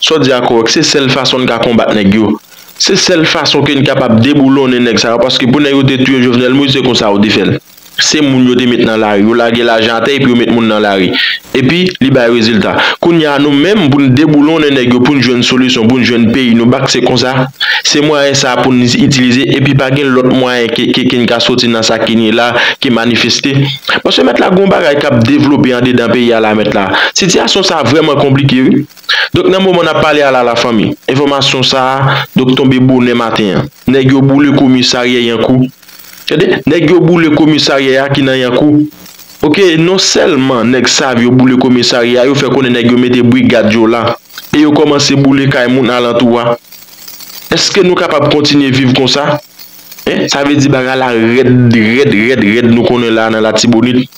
Sa w di a korèk se sèl fason n ka konbat nèg yo se sèl fason ke n kapab deboulonnen nèg sa yo paske pou nèg yo te touye Jovenel Moïse se konsa yo te fè l se moun yo te met nan lari yo lage lajan atè epi yo met moun nan lari epi li bay rezilta kounye a nou menm pou n deboulonnen nèg yo pou n jwenn solisyon pou n jwenn peyi nou bak se konsa se mwayen sa pou n itilize epi pa gen lòt mwayen ke ke n ka soti nan sa ke n ye la ke manifeste paske mèt la gon bagay k ap devlope andedan peyi a la mèt la sitiyasyon sa vrèman konplike wi. Donk nan moman nap pale a la la fanmi, enfòmasyon sa a donk tonbe bonè maten an. Nèg yo boule komisaryè Yankou. Tande, nèg yo boule komisaryè a ki nan Yankou. Ok, non sèlman nèg sav yo boule komisaryè a, yo fè konnen nèg yo mete brigad yo la e yo kòmanse boule kay moun alantou a. Eske nou kapab kontinye viv konsa? Hein, sa vle di bagay la rèd, rèd, rèd, rèd nou konnen la a nan Latibonit.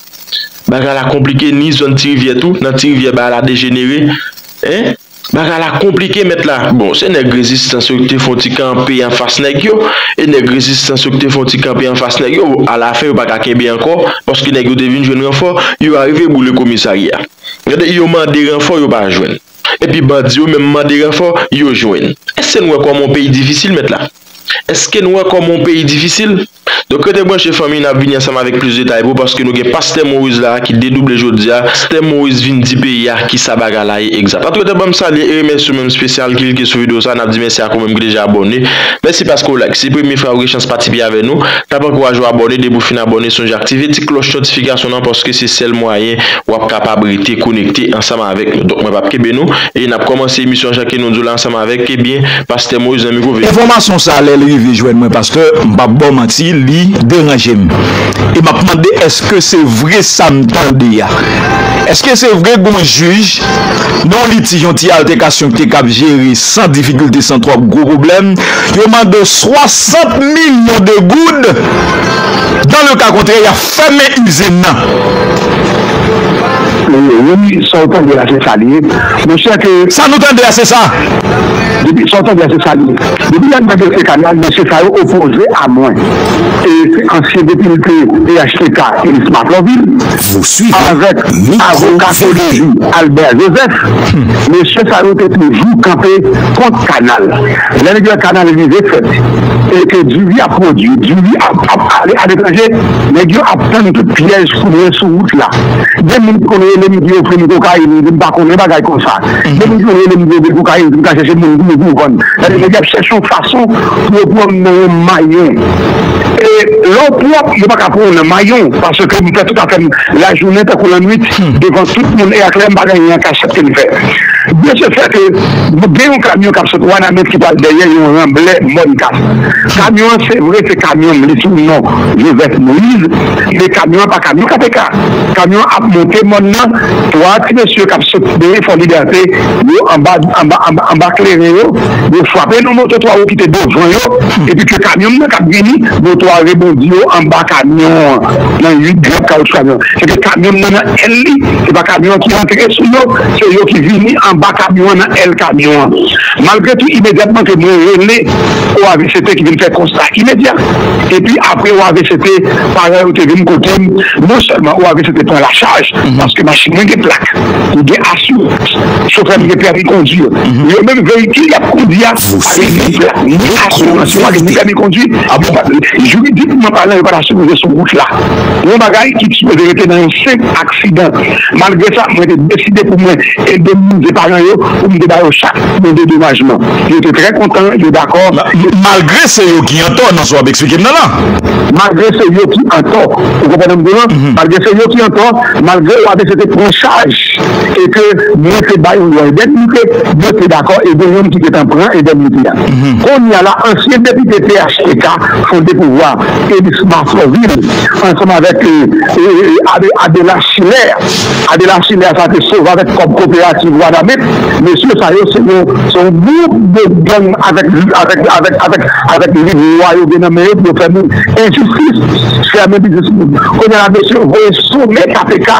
Bagay la konplike ni zòn ti rivyè tou nan ti rivyè bagay la dejenere hein bagay la konplike mèt la bon se nèg rezistans yo ki te fon ti kanpe anfas nèg yo e nèg rezistans yo ki te fon ti kanpe anfas nèg yo a la fen yo paka kenbe ankò paske nèg yo te vin jwenn ranfò yo arive boule komisarya gade yo mande ranfò yo pa jwenn. Epi bandi yo menm mande ranfò yo jwenn. Èske n wè kòman yon peyi difisil mèt la? Èske n wè kòman yon peyi difisil? Donk rete branche fanmi n ap vini ansanm avèk plis detay pou paske nou gen pastè Moïse la a ki dedouble jodi a, pastè Moïse vin di peyi a kisa bagay la ye egzat. Antou rete banm salye e remèsye w menm spesyal ki klike sou video sa a n ap di mèsi ak ou menm ki deja abòne. Mèsi paske w like si premye fra ou gen chans patipe avè nou n ap ankouraje w abòne depi w fin abòne sonje aktive ti klòch notifikasyon nan paske se sèl mwayen w ap kapab rete konekte ansanm avèk nou donk mwen pap kenbe nou e nap kòmanse emisyon an jan ke nou di w la ansanm avèk ebyen pastè Moïse nan mikwo ve. Enfòmasyon sa lèl rive jwenn mwen pastè m pap baw manti li deranje m e map mande èske se vre sam tande a èske se vre gon jij nan yon litij yon ti altèkasyon ki te kab jere san difikilte san twòp gwo pwoblèm yo mande w 60 milyon de goud dan le ka kontrè yap Fèmen izin nan. Wi sa ou tande a se sa li ye mon chè ke. Sa nou tande a se sa. Depi sa ou tande a se sa li ye. Depi lè m nan dosye kanal mesye sa yo opoze a mwen e se ansyen depite phtk Elis Mathlovil avèk avoka Codevi Albert Joseph mesye sa yo te toujou kanpe kont kanal lè li gen kanal rive fèt. e ke diri ap pwodui, diri ap ale aletranje, nèg yo ap tann tout pyèj pou mwen sou wout la. Gen moun ki konn rele m ki ofri m kokayin, m di m pa konnen bagay konsa. Gen moun ki konn rele m di yo gen kokayin, di m ka chèche moun pou yo vann. Sa di nèg yo ap chèche yon fason pou yo pran m nan yon mayon. E lè w pwòp, yo pa ka pran w nan mayon paske m fè tout afè m lajounen tankou lannuit devan tout moun e aklè, m pa gen anyen an kachèt ke m fè. De se fè ke. Gen yon kamyon kap sot wanament ki pral dèyè yon ranblè mòn kas. Kamyon an se vre se kamyon m li sou non Joseph Moïse men kamyon an pa kamyon KTK. Kamyon an ap monte mòn nan 3 ti mesye kap sot dèyè fò libète yo anba anba kleren yo yo frape nan moto 3 wou kite devan yo epi ke kamyon m nan kap vini moto a rebondi yo anba kamyon an nan 8 grap kawoutchou kamyon an se te kamyon m nan nan èl li se pa kamyon an ki rantre sou yo. Se yo ki vini anba kamyon an nan èl kamyon an. Malgre tou imedyatman ke mwen rele OAVCT ki vin fè konsta imedya. Epi apre OAVCT paran yo te vin kotem non sèlman OAVCT pran la chaj paske machin mwen gen plak, li gen asirans, chofè m gen pèmi kondwi yo. Yo menm veyikil yap kondwi a pa gen ni plak ni asirans yo pa gen ni pèmi kondwi yo pa jiridikman palan yo pa ta sipoze sou wout la. Yon bagay ki t sipoze rete nan yon senp aksidan. Malgre sa, mwen te deside pou mwen endemnize paran yo pou m te ba yo chak yon dedomajman. Yo te trè kontan, yo dakò. Malgre se yo ki antò nan sa w ap eksplike m nan la? Malgre se yo ki antò. Ou konprann sa m di w lan? Malgre se yo ki antò, malgre yo abc te pran chaj e ke mwen te ba yo yon endemnite, yo te dakò e gen youn ki te tan pran endemnite a. Kounye a la, ansyen depite phtk fonde pouvwa a, Elisma Florvil, ansanm avèk Adela Schiller. Adela Schiller sa te sove avèk kòb koperativ Wanament. Mesye sa yo se yon gwoup de gang avèk liv lwa yo gen nan men yo pou yo fè moun enjistis, fèmen biznis moun. Kounye a mesye yo voye sonnen kpk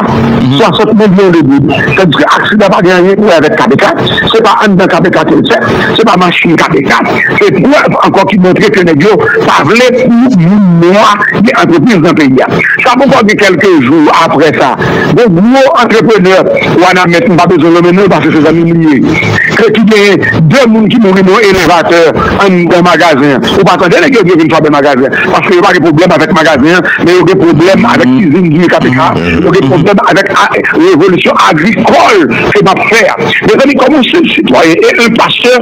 60 milyon de goud. Tandiske aksidan pa gen anyen pou wè avèk kpk. Se pa anndan kpk ke l fèt. Se pa machin kpk. se prèv ankò ki montre ke nèg yo pa vle pou moun nwa gen antrepriz nan peyi a. Sa poko gen kèlke jou aprè sa, yon gwo antreprenè Wanament, m pa bezwen nonmen non l paske se zanmi m li ye, ke ki gen 2 moun ki mouri nan yon elevatè anndan magazen an. Ou pa tande nèg yo di yo vin fwape magazen an paske yo pa gen pwoblèm avèk magazen an, men yo gen pwoblèm avèk izin Guy KPK, yo gen pwoblèm avèk revolisyon agrikòl ke m ap fè a. Mezanmi, kòm yon senp sitwayen e yon pastè,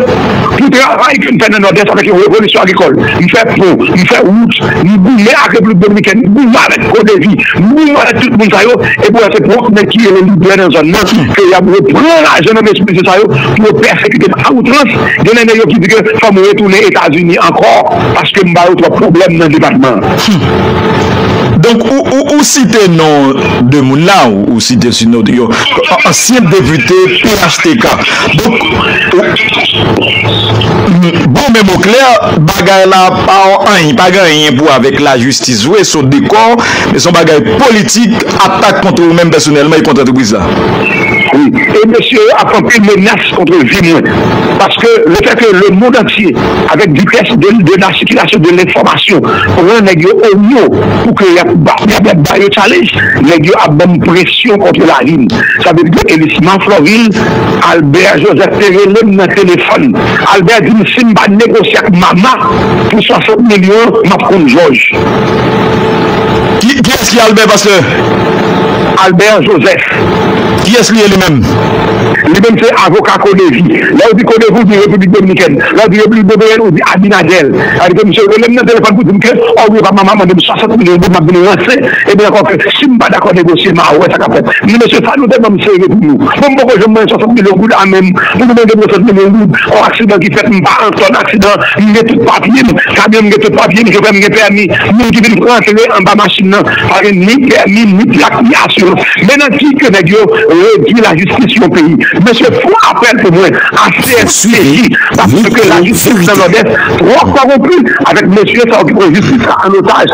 Pou travay ke m fè nan Nòdès avèk yon revolisyon agrikòl, m fè pon, m fè wout, m goumen ak Repiblik Dominikèn, m goumen avèk CODEVI, m goumen avèk tout moun sa yo, epi wè se pwòp nèg ki rele lidè nan zòn nan ke y ap repran lajan nan men ti mesye sa yo pou yo pèsekite m a outrans. Genlè nèg yo ki di ke fò m retounen Etazini ankò paske m ba yo twòp pwoblèm nan depatman an. Hum! Donk ou site non 2 moun la, ou site sinon yo ansyen depite phtk. Donk Bon men mon cler bagay la pa anyn pa gen anyn pou avek la jistis vre son dekor men son bagay politik atak kontre ou menm pèsonèlman e kont antrepriz la. Wi e mesye yo ap anpil menas kontre vi mwen paske le fè ke le mond antye avek vitès de la sikilasyon de lenfomasyon pran nèg yo o mo pou ke yap ba yo challenge nèg yo ap banm presyon kontre la vim sa vle di ke Elisma Floril Albert Joseph te rele m nan telefòn. Albert di m si m pa negosye ak Mama pou 60 milyon an, m ap konn Jòj. Kiyès ki Albert, pastè? Albert Joseph. Kiyès li ye li menm? Li menm se avoka Codevi. Lè ou di Codevi, ou di Repiblik Dominikèn. Lè ou di Repiblik Dominikèn, ou di Abinader. Sa vle di ke misye rele m nan telefòn pou di m ke, o wi e pa Mama mande m 60 milyon goud, m ap vin ranse Epi ankò ke si m pa dakò negosye ma wè sa kap fèt. Men mesye sa nou te banm sere pou nou. Bon m poko janm mwen 60 milyon goud a menm pou nou mande m 60 milyon goud on aksidan ki fèt m pa an zòn aksidan m gen tout papye m kamyon m gen tout papye m chofè m gen pèmi moun ki vin rantre anba machin nan pa gen ni pèmi ni plak ni asirans men nan ki ke nèg yo redwi lajistis yon peyi mesye fon apèl pou mwen a cnsp paske lajistis nan nòdès trò kòwonpi avèk mesye sa yo ki pran jistis la an otaj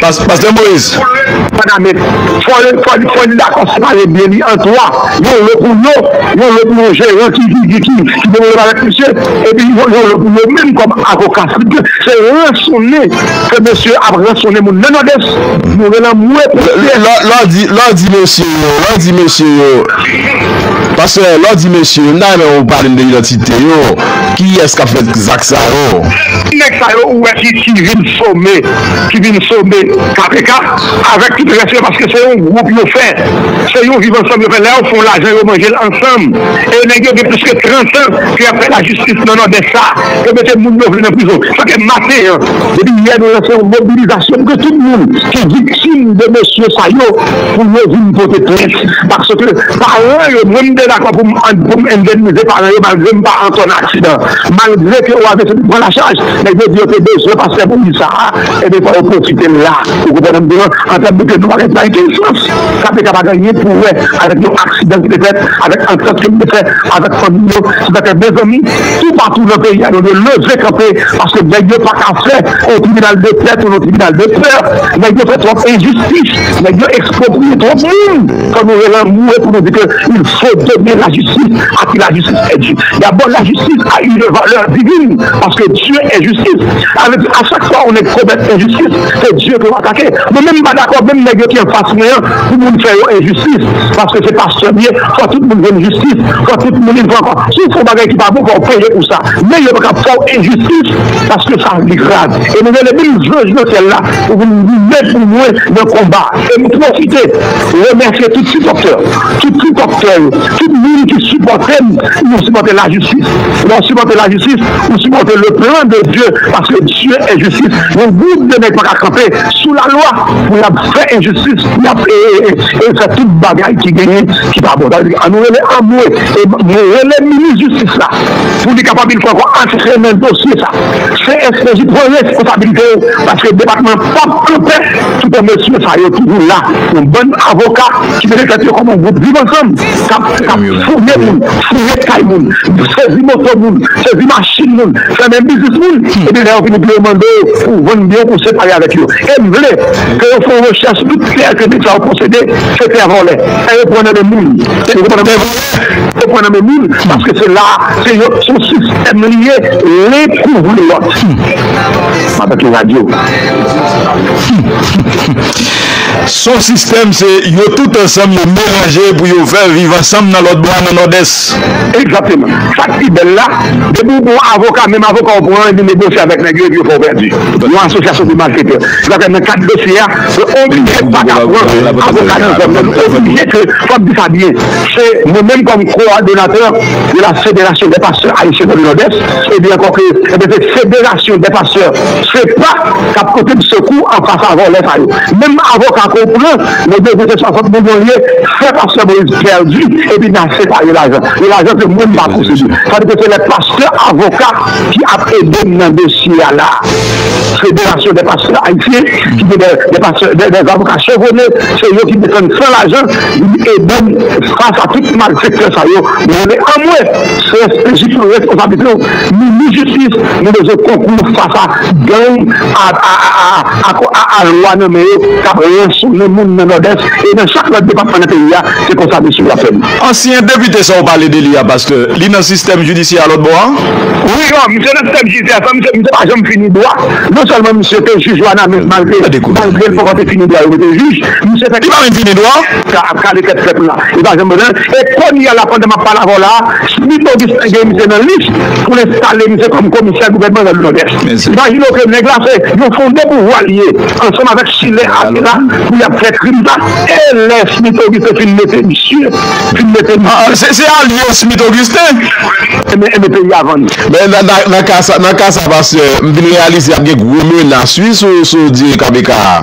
Pastè Moïse. Fanamèt. Fò li dakò separe byen li an 3. Yon lo pou yo, yon lo pou yon jeran ki develop avèk misye, epi yon lo pou yo menm kòm avoka. Se ransonnen ke mesye ap ransonnen moun nan Nòdès. Nou gen lanmou pou Pyè. Lè w di mesye yo, lè w di mesye yo, pastè, lè w di mesye yo, m ta renmen ou pale m de idantite yo. Kiyès k ap fè zak sa yo? Tout nèg sa yo ou wè ki vin some ki vin some kpk avèk tout rès yo paske se yon gwoup yo fè se yon viv ansanm yo fè lè yo fon lajan yo manje l ansanm e nèg yo gen plis ke 30 an ke yap fè lajistis nan nòdès sa yo mete moun yo vle nan prizon sa fè maten an depi yè nou lanse yon mobilizasyon pou ke tout moun ki viktim de mesye sa yo pou yo vin pote plent paske paran yo mwen m te dakò pou m endemnize paran yo malgre m pa antò nan aksidan an. Malgre ke wa Vèsè te pran la chaj, nèg yo di yo te bezwen pastè pou vil sa a, enben fò yo pwofite l la. Ou konprann sa m di w lan? Antant nou te fè pa gen pa gen okenn sans. Sa te ka pa gen anyen pou wè avèk yon aksidan ki te fèt, avèk antant ke m te fè avèk fanmi yo. Se sa k fè, mezanmi, toupatou nan peyi a nou dwe leve kanpe paske nèg yo pa ka fè yon tribinal de pè tounen yon tribinal de pè. Nèg yo fè twòp enjistis, nèg yo ekspropriye twòp moun. Fò nou relanmouye pou nou di ke. fo domen lajistis a ki lajistis è di ya bon lajistis a une valeur divine paske Dieu est justice sa vle di a chak fwa yon nèg komèt enjistis se Dieu ke w atake mwen menm m pa dakò menm nèg yo ki anfas mwen an pou moun fè yo enjistis paske se pastè m ye fò tout moun jwenn jistis fò tout moun yn fò ankò si w fè yon bagay ki pa bon fò w peye pou sa men yo pa ka fè w enjistis paske sa li grav e nou rele menm jwè jwè syèl la pou vin goumen pou mwen nan konba e m pwofite. Remèsye tout sipòtè, tout tripòtè yo, tout moun ki sipòte m, nou sipòte lajistis, lè w sipòte lajistis ou sipòte le plan de Dye paske Dye est justice, yon gwoup de nèg paka kanpe sou lalwa pou y ap fè enjistis, y ap fè tout bagay ki genyen ki pa bon, sa vle di an nou rele anmwe e mwen rele minis jistis la pou li kapab enn fwa ankò antrennen dosye sa CSPJ pran responsabilite yo paske depatman pap kanpe. Tout bon mesye sa yo toujou la yon bann avoka ki mete tèt yo kòm yon gwoup viv ansanm kap fouye moun, fouye kay moun, sezi moto moun, sezi machin moun, fèmen biznis moun epi lè yo vini pou yo mande w pou vann byen w pou w separe avèk yo e m vle ke yo fè yon rechèch sou tout tè ke nèg sa yo posede se tè vòlè, tè yo pran nan men moun. Ou pran nan men moun paske se la se yo son sistèm li ye len kouvri lòt Mata ki radyo. Son sistèm se yo tout ansanm yo melanje pou yo fè viv ansanm nan lòt bò a nan nòdès. Egzakteman. Sak pi bèl la, depi ou gon avoka, menm avoka ou pran an epi negosye avèk nèg yo epi yo fè w pèdi. Yon asosyasyon de malfetè. Se sa k fè nan kad dosye a, yo oblije paka pran avoka nan zòn nan, nou oblije ke, fòk di sa byen. Se mwen menm kòm kowòdonatè de la Federasyon dè Pastè Ayisyen nan Nòdès, e di ankò ke se Federasyon dè Pastè fepa k ap pote m sekou an fas a vòlè sa yo. Menm avoka ke w pran nan dosye se 60 milyon l ye, fè pastè Moïse pèdi epi nan separe lajan. E lajan se mwen m pa posede. Sa vle di ke se lè pastè avoka ki ap ede m nan dosye a la a. Federasyon dè Pastè Ayisyen ki gen dè avoka chevwone, se yo ki defann san lajan. Li di Edom fas a tout malfektè sa yo nou rele anmwe CSPJ pran responsablite w minis jistis nou bezwen konkou w fas a gang a lwa nan men yo kap ransonnen moun nan nòdès e nan chak lòt depatman nan peyi a se konsa mesye yo ap fè nou. Ansyen depite sa ou pale de li a pastè, li nan sistèm jidisyè a lòtbò a? Wi non, misye nan sistèm jidisyè a san misye pa janm fini dwa, non sèlman misye te jij Wanament malgre l poko te fini dwa yo mete l jij, Misye fè ki pa menm fini non. Sa ap kale tèt pèp la li pa janm bon nan e konnya la pandan map pale avèw la Smith Augustin gen misye nan lis poul enstale misye kòm komisè gouvènman nan nòdès imajine w ke nèg la se yon fonde pouvwa li ye ansanm avèk chilè ate la pou yap fè krim sa e lè Smith Augustin fin mete misye fin mete misye se alye w Smith Augustin enben peyi a vann. Men nan ka sa nan ka sa pastè m vin reyalize ap gen gwo menas wi sou sou diri KBK a.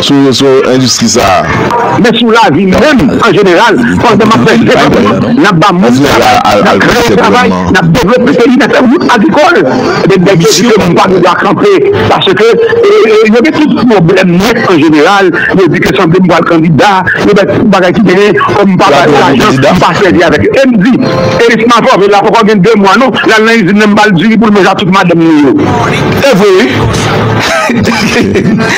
sou endistri sa a. Men sou lavi menm an jeneral, pandan m ap fè devlopman, n ap ba moun travay, n ap kreye travay, n ap devlope peyi, n ap fè wout agrikòl, ebyen nèg yo di ke m pa gen dwa kanpe paske yo gen tout pwoblèm nèt an jeneral, yo di ke sanble m pral kandida, yo bay tout bagay ki genyen, kòm m pa bay lajan, m pa sèvi avèk yo. E m di, Eris Mavove la poko gen 2 mwa non, l al nan izin nan m ba l diri pou l manje ak tout madanm li yo. E vre wi!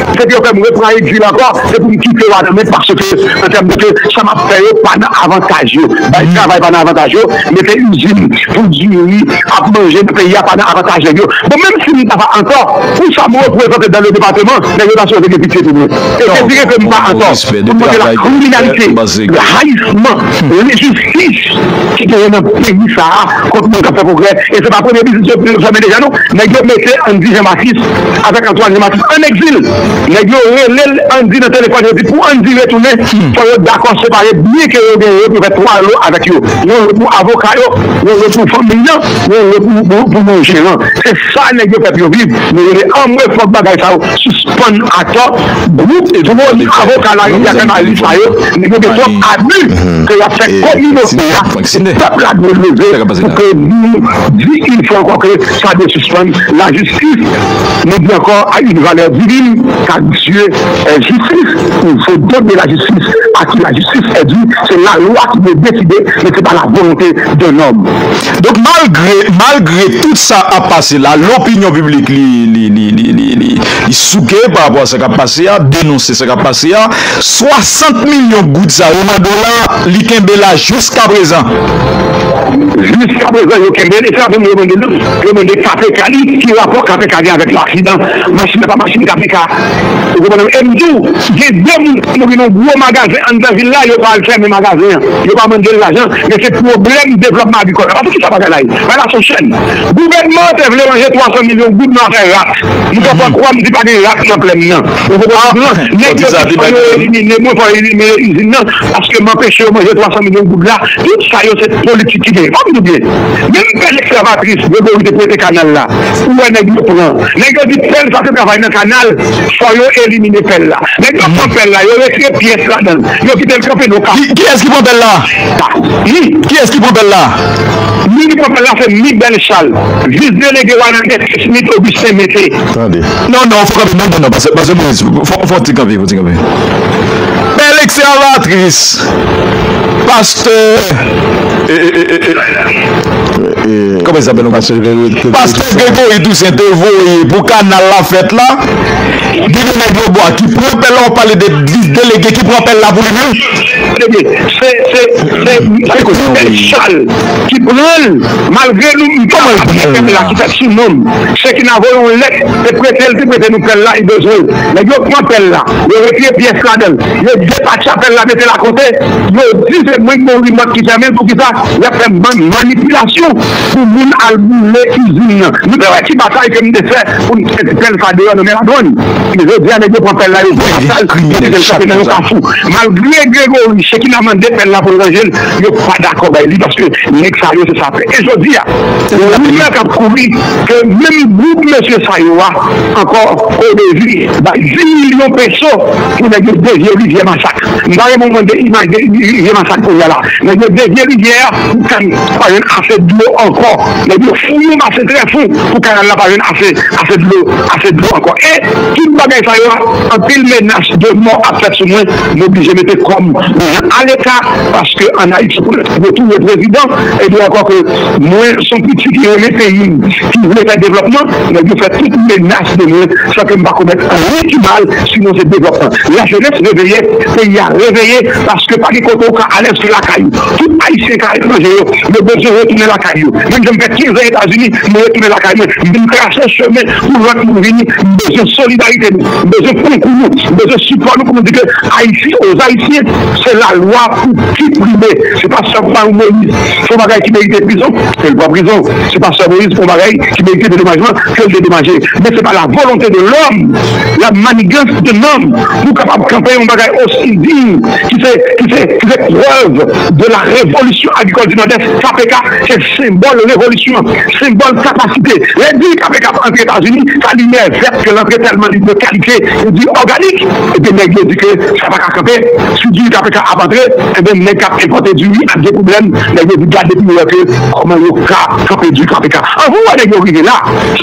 Se ke yo fè m repran egzil ankò, se pou m kite Wanament paske, an tèm de ke sa m ap fè yo pa nan avantaj yo. Bay travay pa nan avantaj yo, mete izin pou diri ak manje nan peyi a pa nan avantaj nèg yo. Bon, menm si m ta pa antò, pou sa m reprezante dan le depateman, nèg yo ta sipoze gen pitye pou mwen. E se dire ke m pa antò pou m montre lakriminalite, rayisman, lenjistis ki genyen nan peyi sa a kont moun k ap fè pwogrè. E se pa premye biznis yo fèmen deja non. Nèg yo mete, an n di Jan Batis. avèk Antwàn yon maten an egzil, nèg yo rele l Andy nan telefòn yo di pou Andy retounen fò yo dakò separe byen ke yo genyen yo pou fè 3 lo avèk yo, yon lo pou avoka yo, yon lo pou fanmiy lan, yon lo pou yon jeran. Se sa nèg yo fè pou yo viv, nou rele anmwe fòk bagay sa yo sispann atò, gwoup gwo avoka larivyè fè mal li sa yo, nèg yo gen twòp abi ke yap fè kominote a, pèp la dwe leve pou ke nou di yon fwa ankò ke sa dwe sispann. Tit, Nou di ankò a yn valè divin car Dieu est justice, il faut donner la justice à qui la justice est due, se la lwa ki dwe deside men se pa la volonté d'un homme. Donk malgre malgre tout sa ap pase la lopinyon piblik li li li souke pa rapò a sa kap pase a, denonse sa kap pase a, 60 milyon goud sa yo nan dola li kenbe la jiskaprezan. Jiskaprezan yo kenbe li sa menm yo mande nou. Yo mande kpk di ki rapò kpk gen avèk aksidan machin nan pa machin kpk ou konprann em diw gen 2 moun ki mouri nan yon gwo magazen anndan vil la yo pa al fèmen magazen an yo pa mandel lajan men se pwoblèm devlòpman agrikòl apa poukisa bagay la ye bagay la son chèn gouvènman an te vle ranje 300 milyon goud nan afè rat m fè fwa kwam di pa gen rat nan plèn nan ou konprann non nèg yo di fò yo elimine mwen fò yo elimine izin nan paske m anpeche yo manje 300 milyon goud la tout sa yo se politik ki genyen fòm nou byen. Menm pèl esklavatris Gregory te prete kanal la ou wè nèg yo pran. Nèg yo di pèl sa se travay nan kanal fò yo elimine pèl la. Nèg yo pran pèl la yo retire pyès ladan l yo kite l kanpe non kap. Kiyès ki pran pèl la? Ni. Kiyès ki pran pèl la? Moun ki pran pèl la se Mi Bèlchal, vis delege Wanament ke Smith Augustin mete. Tande. Non non fò kanpe non non non pase pase Moise fò fò ti kanpe fò ti kanpe. Pèl eksavatris pastè. Pastè Gregory Toussaint te voye pou kanal la fèt la gen de nèg yo bwa ki pran pèl la wap pale de delege ki pran pèl la pou li menm se Christelle Charles ki pranl malgre nou m pa aplike pèl la ki fèt sou nonm se ki nan voye yon lèt te prete l te prete nou pèl la li bezwen l nèg yo pran pèl la yo retire pyès ladanl yo depatcha pèl la mete l akote. Yo di se mwen ki gen yon remòt ki fèmen poukisa yap fè manipilasyon pou moun al boule izin nan nou te wè ki batay ke nou te fè poun t fè ti pèl sa deyò nan men ladwàn ebyen jodi a nèg yo pran pèl la yo vide sal yo kite l chante nan yon kafou malgre Gregory chekina mande pèl la poul ranjel yo pa dakò bay li paske nèg sa yo se sapè e jodi a gen rimè kap kouri ke menm gwoup mesye sa yo a ankò odezir bay 10 milyon peso pou nèg yo devye rivyè masak. M ta renmen w mande imaj de rivye masak kounye a la. Nèg yo devye rivyè a pou kanal la pa jwenn ase dlo ankò. Nèg yo fouye yon ase trè fon pou kanal la pa jwenn ase ase dlo ase dlo ankò. E tout bagay sa yo a anpil menas de mò ap fèt sou mwen. M oblije mete kò m aleka paske an Ayiti pou yo touye prezidan. E di ankò ke mwen s on pitit ki renmen peyi m ki vle fè devlòpman. Nèg yo fè tout menas de mwen san ke m pa komèt anyen ki mal. Sinon se devlòpman. La jenès reveye, peyi a reveye paske pa gen kote ou ka alèz ke lakay ou. Tout Ayisyen ka etranje yo, yo bezwen retounen lakay yo. Menm jan m fè 15 an Etazini, m retounen lakay mwen. M vin trase chemen pou lòt moun vini. M bezwen solidarite nou. M bezwen konkou nou. M bezwen sipò nou pou nou di ke Ayiti o Zayisyen. Se lalwa pou ki prime. Se pa sèl pa yon Moïse fè yon bagay ki merite prizon, ke l pran prizon. Se pa sèl Moïse fè yon bagay ki merite dedomajman, ke l dedomaje. Men se pa la volonte de lòm. La manigans de nanm pou kapab kanpe yon bagay osi diy ki se ki se ki se prèv de la revolisyon agrikòl di Nòdès. Kpk se senbòl revolisyon, senbòl kapasite. Lè di kpk ap antre Etazini, sa limyè vèt ke l antre tèlman li de kalite pou di òganik. Ebyen nèg yo di ke sa pa ka kanpe, si diri kpk ap antre, ebyen nèg k ap enpòte diri ap gen pwoblèm. Nèg yo di gade pou yo wè ke kòman yo ka kanpe diri kpk. An vou wè nèg yo rive la.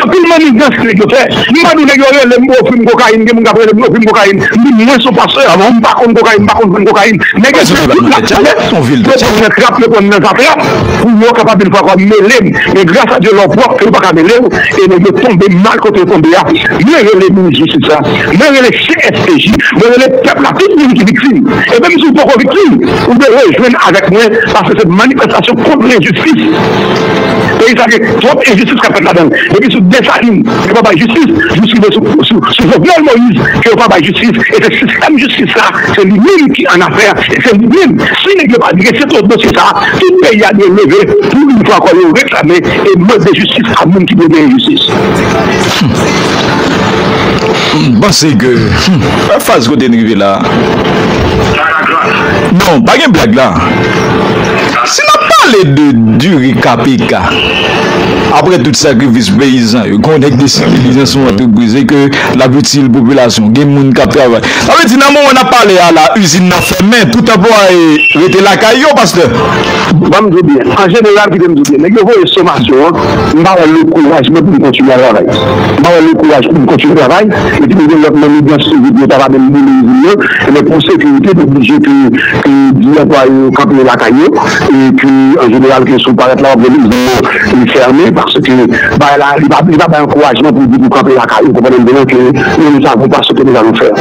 Anpil manigans nèg yo fè. M pa di w nèg yo rele m pou ofri m kokayin, gen moun k ap rele m pou ofri m kokayin. M di mwen se yon pastè avan, m pa konn kokayin, m pa konn vann kokayin. Nèg yo fè tout sa yo vle, yo pran m nan trap, yo pran m nan zatrap pou yo kapab vin fwa fwa mele m. Men gras a Dye lè w pwòp yo pa ka mele w e nèg yo tonbe mal kote yo tonbe a. Mwen rele minis jistis la, mwen rele CSPJ, mwen rele pèp la, tout moun ki viktim e menm si w poko viktim, ou dwe rejwenn avèk mwen paske se manifestasyon kont lenjistis. Peyi sa gen twòp enjistis kap fèt ladann depi sou Desalin yo pa bay jistis jis rive sou Jovenel Moïse ke yo pa bay jistis e se sistèm jistis sa se li menm ki annafè e se li menm si nèg yo pa drese tout dosye sa tout peyi a dwe leve pou yn fwa ankò yo reklame e mande jistis a moun ki dwe genyen jistis. Humm m panse ke humm faz kote n rive la non pa gen blag la. Si nap pale de diri kpk, apre tout sakrifis peyizan yo, gen yon nèg deside li gen son antrepriz e ke lap itil popilasyon, gen moun kap travay. Sa vle di nan moman nap pale a la izin nan fèmen, tout anplwaye rete lakay yo, pastè? Banm diw byen, an jeneral kite m diw byen, nèg yo voye somasyon an, m pa wè le kouraj mwen pou m kontinye al travay. M pa wè le kouraj pou m kontinye travay, epi m gen lòt manigans toujou ki yo ta va menm boule izin nan, Se lè pou sekirite te oblije ke di anplwaye yo kanpe lakay yo e ke an jeneral ke si w parèt la w ap jwenn izin nan fèmen paske bagay la li pa bay ankourajman pou di pou kanpe lakay ou, ou konprann mwen ke nou menm sa nou pa swete nou fè.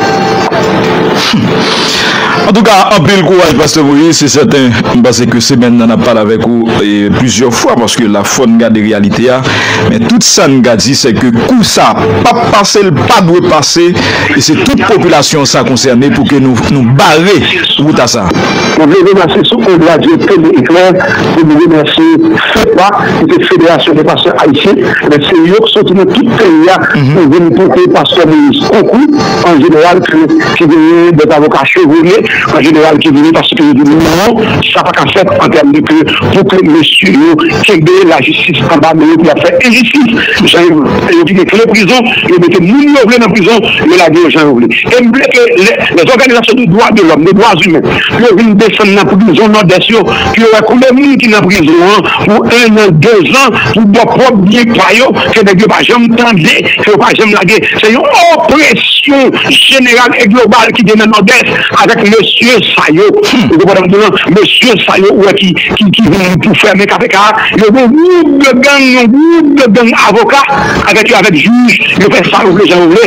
Humm. Antouka anpil kouraj pastè Moïse se sèten m panse ke semèn nan n ap pale avèk ou plizyè fwa paske la fò n gade reyalite a men tout sa n ka di se ke kou sa pap pase l pa dwe pase e se tout popilasyon sa konsène pou ke nou bare wout a sa. Mwen vle remasye sou on radyo tele eklèr pou m remasye FEPA ki se Federasyon de Pastè Ayisyen ebyen se yo k soti nan tout peyi a pou vin pote pastè Moïse konkou an jeneral ke ki genyen de zavoka chevole an jeneral ki vini paske yo di non sa pa ka fèt an tèm de ke pou ke mesye yo kenbe lajistis anba men yo pou y ap fè enjistis jan yo yo kite kle prizon. Yo mete moun yo vle nan prizon, yo lage yo jan yo vle. E m vle ke lè òganizasyon de dwa de lòm, de dwa imen, pou yo vin desann nan prizon Nòdès yo, pou yo wè konbyen moun ki nan prizon an pou ennan, dezan, pou bò pwòp byen pa yo, ke nèg yo pa janm tande, ke yo pa janm lage. Se yon opresyon jeneral e global ki gen nan Nòdès avèk mesye sa yo. Ou konprann sa m di w lan? Mesye sa yo ou wè ki vin pou fèmen kpk a, yo gen yon gwoup de gang, yon gwoup de gang avoka. avèk yo avèk jij yo fè sa yo vle jan yo vle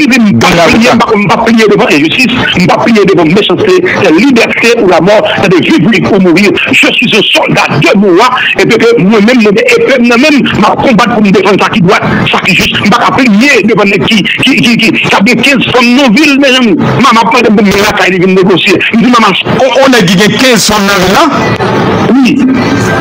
menm si m pa pliye m pap pliye devan enjistis m pap pliye devan mechanste sè libète ou lamò tande viv li ou mouri je suis un soldat de mou a epi ke mwen menm mwen gen epe m nan menm m ap konbat pou m defann sa ki dwat sa ki jis m pa ka pliye devan nèg ki ki ki kap gen 15 fanm nan vil mezanmi mama ap mande m pou m vin lakay li vin negosye m di mama on nèg ki gen 15 fanm nan vil la wi.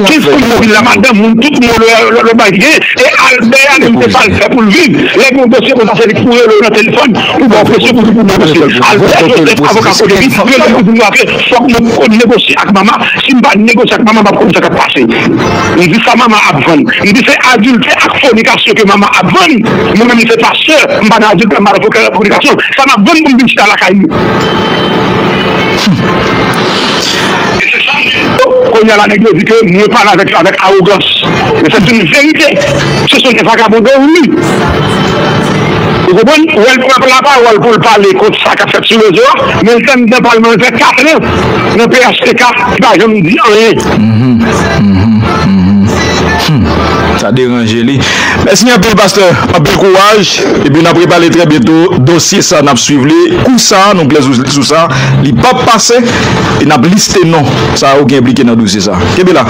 Kif kout mobil la madanm moun tout mo le bay gen e albè a menm se sal fè poul viv lè gen yon dosye konsa se li ki pou rele w nan telefòn pou baw presyon pou di pou negosye albè joseph avoka kote li relem pou di m afe fòk mwen konn negosye ak mama si m pa negosye ak mama m pap konn sa kap pase m di sa mama ap vann m di se adiltè ak fonikasyon ke mama ap vann mwen menm m se pastè m pa nan adiltè m pa nan fonikasyon sa map vann pou m vin chita lakay li. Konya la nèg yo di ke mwen pale avèk avèk awogans men sèt yn verite se son de vagabondè ou li ou konprann ou wèl pran la pawòl poul pale kont sa kap fèt sou rezo a men l fè mndan pal mwen fè 4 an nan phtk li pa janm di anyen. Humm sa deranje li mèsi anpil pastè anpil kouraj epi nap repale trè byento dosye sa nap swiv li kou sa nou klè sou sa li pap pase. e n ap liste non sa yo ki enplike nan dosye sa. Kenbe la.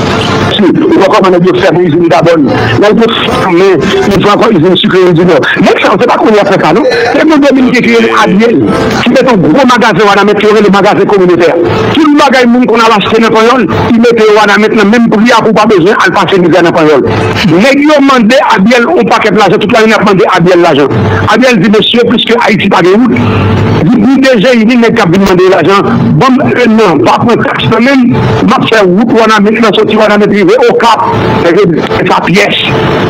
Si ou pa konnen nèg yo fèmen izin Gabon nèg yo fèmen izin ankò izin sikre yo di non nèg sa yo se pa kounye a fè sa non te gen dominiken ki rele Ariel ki met yon gwo magazen wanament yo rele magazen kominotè tout bagay moun konn al achte nan panyòl li mete yo wanament nan menm pri a pou w pa bezwen al pase mizè nan panyòl. Neg yo mande abiel on paket lajan tout lane yap mande abiel lajan abiel di mesye piske ayiti pa gen wout di pdg yi ni neg kap vin mande lajan banm 1 nan pa pran tax nan menm map fè wout wanament lan soti wanament rive okap neg yo di se pa pyès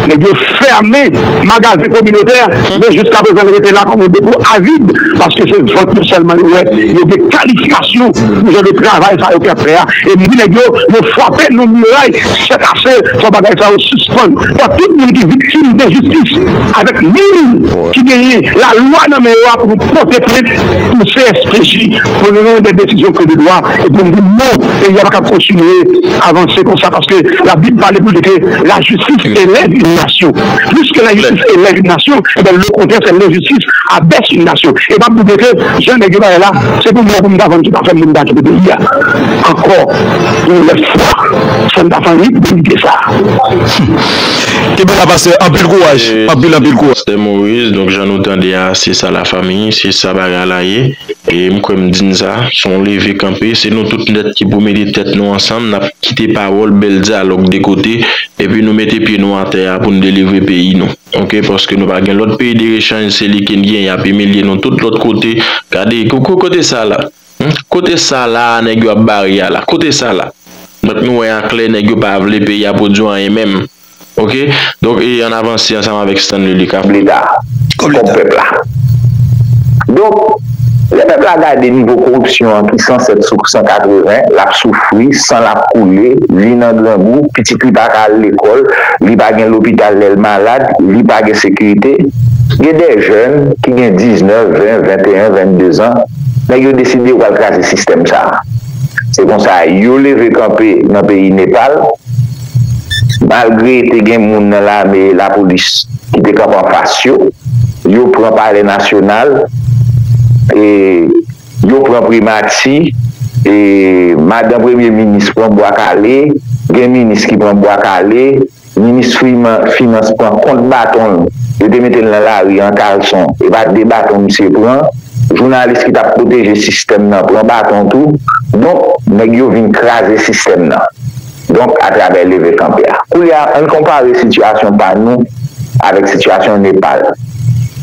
neg yo fèmen magazen kominotè men jiska prezan li rete la kom yon depo avid paske se vant nou selman yo wè yo gen kalifikasyon pou jan de travay sa yo ki ap fè a e m di neg yo yo fwape nou miray Chèk ase fò bagay sa yo sispann. Fò tout moun ki viktim enjistis avèk moun ki genyen lalwa nan men yo a pou nou pote plent pou CSPJ pou nou rann dè desizyon ke de dwa e pou nou di non peyi a pa kab kontinye avanse konsa paske labib pale pou li ke lajistis elève yn nasyon pliske lajistis elève yn nasyon ebyen lokontrè se lenjistis abèse yn nasyon e map double ke jan nèg yo pale la se pou mwen pou m ta vann tout afè m pou m ta kite peyi a ankò yon lòt fwa. Fem pa fan rit bon ide sa. Humm kenbe la pastè anpil kouraj anpil anpil kouraj. Pastè Moise donk jan nou tande a se sa la famille se sa bagay la ye e m kwè m di n sa son leve kanpe se nou tout nèt ki pou mete tèt nou ansanm nap kite pawòl bèl dyalòg de kote epi nou mete pye nou atè a pou n delivre peyi nou ok paske nou pa gen lòt peyi de rechanj se li ke n gen yap imilye nou tout lòt kote gade kote sa la. Humm kote sa la nèg yo ap bare a la kote sa la donk nou wè aklè nèg yo pa vle peyi a pwodwi anyen menm ok donk e ann avanse ansanm avèk Stanley li ka leta kòb pèp la donk lè pèp la gade nivo koripsyon an ki 107 sou 180 l ap soufri san l ap koule li nan grangou pitit li pa ka al lekòl li pa gen lopital lè l malad li pa gen sekirite gen dè jèn ki gen 19 20 21 22 zan. Nèg yo deside yo pral kraze sistèm sa. Se konsa yo leve kanpe nan peyi Nepal, malgre te gen moun nan lame e lapolis ki te kanpe anfas yo, yo pran palè nasyonal, e yo pran primati, e madan premye minis pran bwa kale, gen minis ki pran bwa kale, Ministry finans pran kont baton l, yo te mete l nan lari an kalson, e pa 2 baton misye pran, jounalis ki tap pwoteje sistèm nan pran baton tou, donk nèg yo vin kraze sistèm nan, donk atravè leve kanpe a. Koulye a ann konpare sitiyasyon pa nou avèk sitiyasyon Nepal.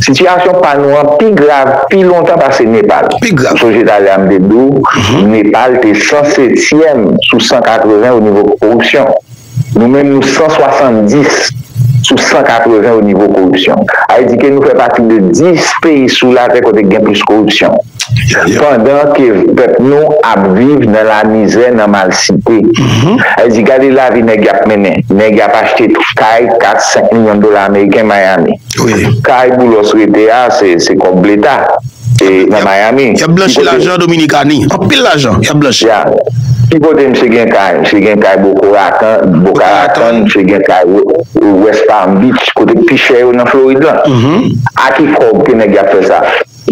Sitiyasyon pa nou an pi grav pi lontan pase Nepal. Ou sonje talè a m te di w Nepal te 107 tièm sou 180 o nivo koripsyon. Nou menm nou 170 sou 180 o nivo koripsyon. A vle di ke nou fè pati de 10 peyi sou latè kote ki gen plis koripsyon. Pandan ke pèp nou ap viv nan lamizè, nan malsite. A vle di gade lavi nèg y ap mennen. Nèg y ap achte kay 4, 5 milyon dola ameriken Miami. Kay Boulos rete a se kòb leta. Nan Miami. Yap blanchi lajan Dominikani. Anpil lajan yap blanchi. Ya. Ki kote misye gen kay? Misye gen kay Boko Ratan, Boca Raton, misye gen kay West Palm Beach, kote pi chè yo nan Florid lan. A ki kòb ke nèg yap fè sa?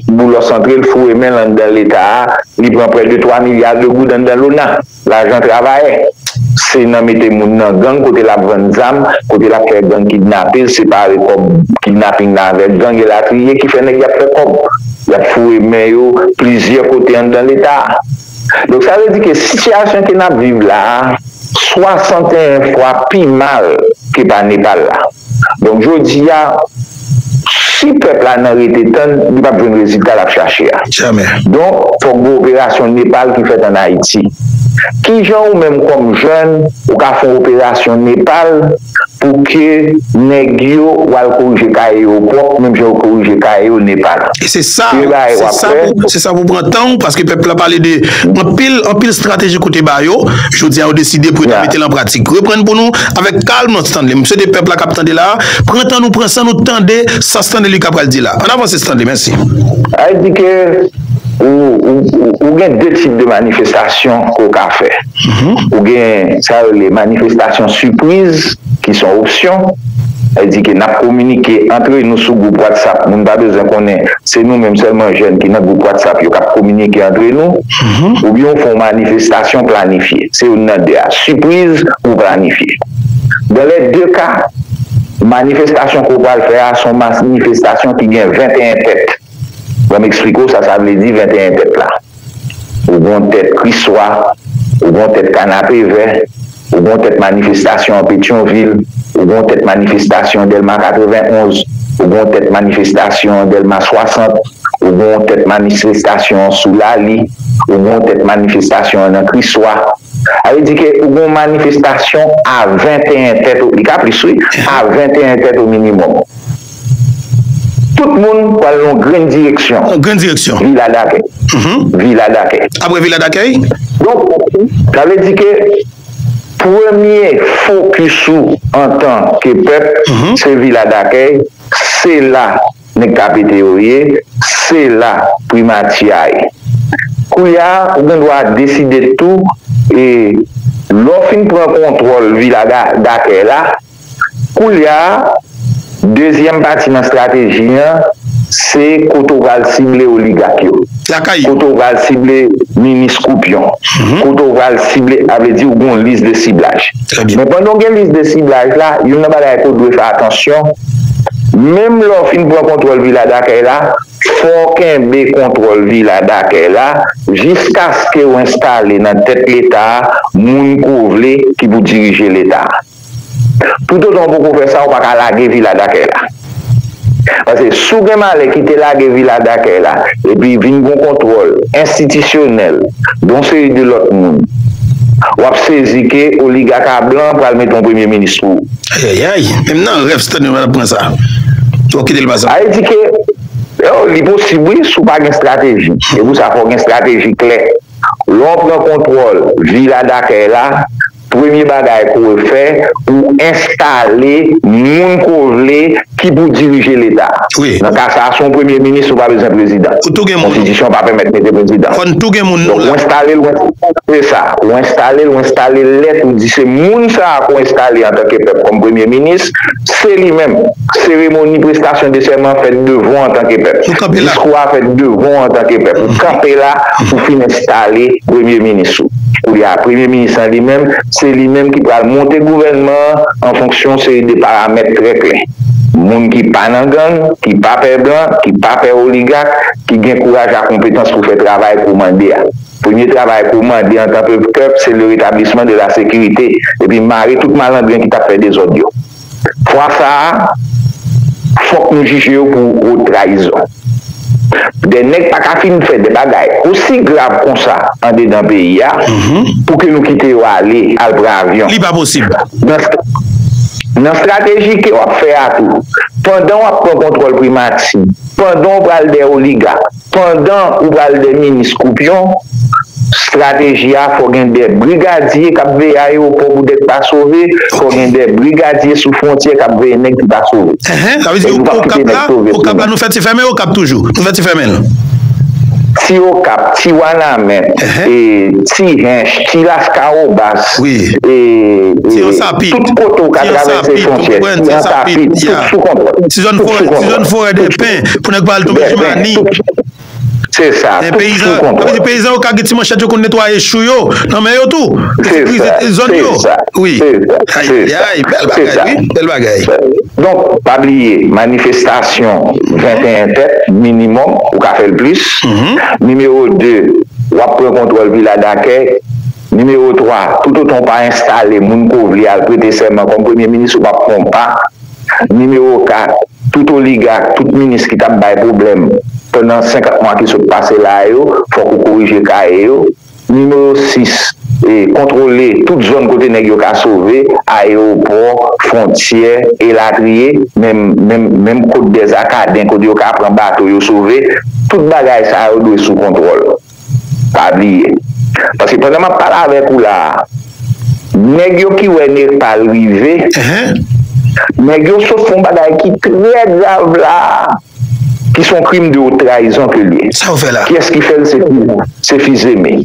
Boulos antre, l foure men l anndan leta a, li pran prè de 3 milya de goud anndan Lona. Lajan travayè se nan mete moun nan gang kote lap vann zam, kote lap fè gang kidnapel, separe kòb kidnaping la avèk gang elatriye ki fè nèg yap fè kòb. Yap foure men yo plizyè kote anndan leta. Donk sa vle di ke sitiyasyon ke nap viv la 61 fwa pi mal ke pa Nepal la. Donk jodi a, si pèp la nan rete tann, li pap jwenn rezilta lap chache a. Donk, fòk gen operasyon Nepal ki fèt an Ayiti. Kijan ou menm kòm jèn, ou ka fè yon operasyon Nepal pou ke nèg yo ou al korije kaye yo pwòp menm jan yo korije kaye yo Nepal? E se sa, se sa pou pran tan ou, paske pèp la pale de anpil, anpil strateji ke w te ba yo, jodi a yo deside pou yo ta mete l an pratik. Reprann pou nou avèk kalm. Stanley, m swete pèp la k ap tande la a, pran tan nou, pran san nou tande sa Stanley Lucas pral di la a. Ann avanse Stanley, mèsi. Sa vle di ke ou gen 2 tip de manifestasyon ke w ka fè. Ou gen sa yo rele manifestasyon sipriz ki se yon opsyon. Sa vle di ke n ap kominike antre nou sou gwoup whatsapp, moun pa bezwen konnen, se nou menm sèlman jèn ki nan gwoup whatsapp yo k ap kominike antre nou. Oubyen ou fè yon manifestasyon planifye. Se youn nan 2 a, sipriz ou planifye. Dans les deux cas, manifestasyon ke w pral fè a son masnifestasyon ki gen 21 tèt. Ban m eksplike w sa sa vle di 21 tèt la. Ou gon tèt Kriswa, ou gon tèt Kanapevè, ou gon tèt manifestasyon an Petyonvil, ou gon tèt manifestasyon an Dèlma 91, ou gon tèt manifestasyon an Dèlma 60, ou gon tèt manifestasyon an sou Lali, ou gon tèt manifestasyon an nan Kriswa. Sa vle di ke ou gen yon manifestasyon a 21 tèt o, li ka plis wi, a 21 tèt o minimòm. Tout moun pral nan yon grenn direksyon. Yon grenn direksyon. Vila dakèy. Vila dakèy. Apre vila dakèy? Donk, sa vle di ke premye fokis ou antan ke pèp, se vila dakèy, se la. nèg ka pete yo ye se la primati a ye koulya ou gen dwa deside tou e lè w fin pran kontwòl vila dakèy la koulya dezyèm pati nan strateji an se kote w pral sible oligak yo. lakay yo. Kote w pral sible minis koupyon. Kote w pral sible a vle di ou gen yon lis de siblaj. Men pandan w gen lis de siblaj la, youn nan bagay ke w dwe fè atansyon, menm lè w fin pran kontwòl Vila Dakèy la, fò w kenbe kontwòl Vila Dakèy la jiskaske w enstale nan tèt Leta a moun ke w vle ki pou dirije Leta a. Tout otan ou poko fè sa ou paka lage vila dakèy la. Pase si w gen malè kite lage vila dakèy la epi vin gon kontwòl enstitisyonèl de yon seri de lòt moun, w ap sezi ke oligaka blan pral mete yon premye minis pou ou. Ayayay! Menm nan rèv Stanley pa t ap pran sa. Fò w kite l pa sa. Sa vle di ke, oh, li posib wi si w pa gen estrateji. Se pou sa fò w gen estrateji klè. Lè w pran kontwòl vila dakèy la, Premye bagay ke w fè, ou enstale moun ke w vle ki pou dirije leta. Nan ka sa a, si w premye minis, ou pa bezwen prezidan. Konstitisyon pa pèmèt mete prezidan. Donk, ou enstale l, ou enstale sa. Ou enstale l, ou enstale lèt, ou di se moun sa a ke w enstale antanke pèp kòm premye minis, se li menm. Seremoni prestasyon de sèman fèt devan w antanke pèp. Diskou a fèt devan w antanke pèp. Ou kanpe la pou fin enstale premye minis ou. Koulye a premye minis lan li menm, se li menm ki pral monte gouvènman an an fonksyon yon seri de paramèt trè klè. Moun ki pa nan gang, ki pa pè blan, ki pa pè oligak, ki gen kouraj ak konpetans pou fè travay kou mande a. Premye travay kou mande antan ke pèp se le rétablissement de la sécurité epi mare tout malandren ki t ap fè dezòd yo. Fwa sa a, fòk nou jije yo pou wo trayizon. De nèg pa ka fin fè de bagay osi grav konsa andedan peyi a pou ke nou kite yo ale, al pran avyon. Nan strateji ke w ap fè a tou, pandan w ap pran kontwòl primati, pandan w pral dèyè oligak, Pandan ou pral de minis koupyon, strateji a fò gen de brigadye kap veye ayewopò pou dèk pa sove, fò gen de brigadye sou fwontyè kap veye nèg ki pa sove. Enhen, sa vle di nou pap kite nèg sove pou nou. Nou fè ti fèmen okap toujou? Nou fè ti fèmen l? Ti okap, ti wanament, ti hench, ti laskawobas, tout kote ou ka travèse fwontyè, ti ansapit, tout sou kontwòl. Ti zòn forè dèpen. pou nèg pa al tonbe sou mani. Se sa, tout sou kontwòl. Epi peyizan yo ka gen ti manchèt yo konn netwaye chou yo nan men yo tou. Se sa, se sa. Se sa, se sa. Bèl bagay. Donk, pa bliye, manifestasyon 21 tèt, minimòm, ou ka fè l plis. Nimewo 2, w ap pran kontwòl vila dakè. Nimewo 3, toutotan ou pa enstale moun ko vle al prete sèman kòm premye minis ou p ap pran pa. Nimewo 4, Tout oligak, tout minis ki t ap bay pwoblèm pandan 50 mwa ki sot pase la a yo, fòk ou korije kaye yo. Nimewo 6, Kontwole tout zòn kote nèg yo ka sove, ayewopò, fwontyè, elatriye, menm menm Côte des Acadens kote yo ka pran bato yo sove, tout bagay sa yo dwe sou kontwòl. Pa bliye. Paske pandan map pale avèk ou la a, nèg yo ki wè Nepal rive, nèg yo sot fè yon bagay ki trè grav la a, ki se yon krim de wot trayizon ke l ye. Sa yo fè la? Kiyès ki fè l? Se Fils-Aimé.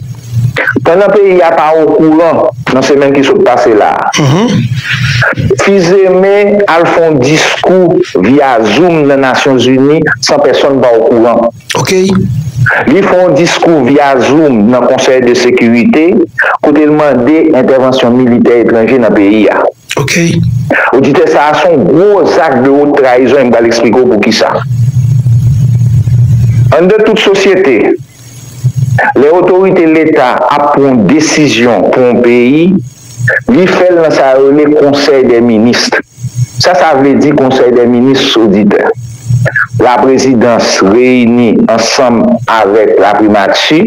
Pandan peyi a pa okouran nan semèn ki sot pase la a, Fils-Aimé al fè yon diskou via Zoom nan Nasyon Zini san pèsonn pa okouran. ok. Li fè yon diskou via zoom nan konsèy de sekirite kote l mande entèvansyon militè etranje nan peyi a. Ok. Oditè sa a se yon gwo zak de wot trayizon e m pral eksplike w poukisa. Anndan tout sosyete, lè otorite leta ap pran yon desizyon pou yon peyi, Li fè l nan sa yo rele Konsèy dè Minis. Sa sa vle di Konsèy dè Minis Soditè? Laprezidans reyini ansanm avèk Laprimati,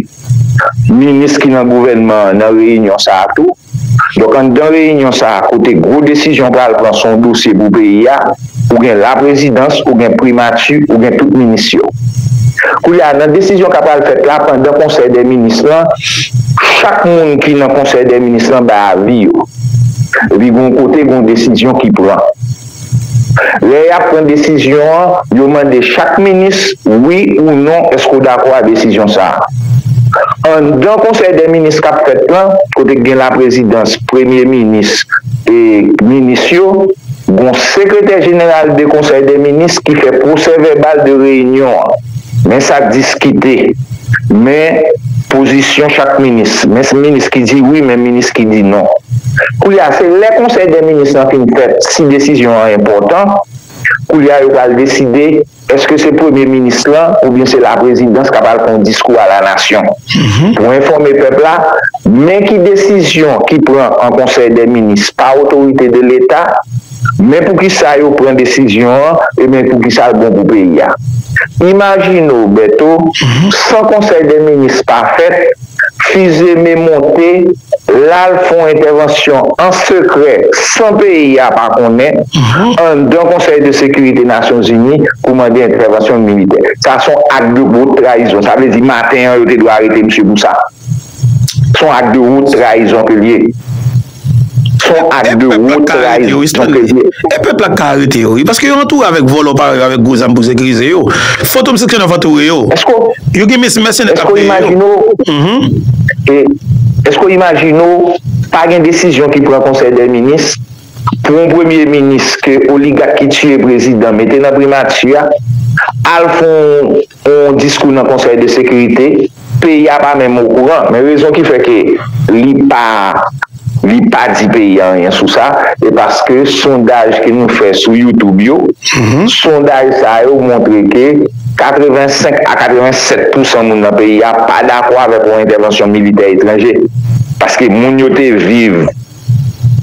minis ki nan gouvènman an nan reyinyon sa a tou. Donk anndan reyinyon sa a kote gwo desizyon pral pran se yon dosye pou peyi a. Ou gen laprezidans, ou gen primati, ou gen tout minis yo. Koulye a, nan desizyon k a pral fèt la, pandan konsèy dè minis lan, chak moun ki nan konsèy dè minis lan bay avi yo. Epi gen yon kote, gen yon desizyon ki pran. Lè y ap pran desizyon an, yo mande chak minis, wi ou non, èske w dakò a desizyon sa a? Anndan konsèy dè minis k ap fèt lan, kote gen laprezidans, premye minis e minis yo, Gon sekretè jeneral de konsèy dè minis ki fè pwosè vèbal de reyinyon an. Men sa k diskite. Men pozisyon chak minis. Men minis ki di wi men minis ki di non. Koulye a se lè konsèy dè minis lan fin fèt si desizyon an enpòtan. Koulye a yo pral deside. Eske se premye minis lan oubyen se laprezidans kap al fè yon diskou a la nasyon pou enfòme pèp la men ki desizyon ki pran an konsèy dè minis pa otorite de leta men poukisa yo pran desizyon an e men poukisa l bon pou peyi a imajine w Bèto san konsèy dè minis pa fèt Fizeme monte, l al fè yon entèvansyon an sekrè, san peyi a pa konnen, anndan Konsèy de Sekirite Nasyonzini pou mande entèvansyon militè. Sa s on ak de wot trayizon. Sa vle di maten an yo te dwe arete misye pou sa. S on ak de wot trayizon ke l ye. Fon ak de wo trayizon ke li. E pèp la k ka arete yo wi. Paske yo antoure avèk vòlò parèy yo, avèk gwo zam pou sekirize yo. Fantom seksyon 9 antoure yo. Yo gen mes mèsenè k ap peye yo. Eske w imajine w pa gen desizyon ki pran konsèy dè minis pou yon premye minis ke oligak ki tiye prezidan mete nan primati a al fon yon diskou nan konsèy de sekirite, peyi a pa menm okouran, men rezon ki fè ke li pa li pa di peyi a anyen sou sa, e paske sondaj ke nou fè sou youtube yo, sondaj sa yo montre ke 85 a 87 pousan moun nan peyi a pa dakò avèk yon entèvansyon militè etranje, paske moun yo te viv.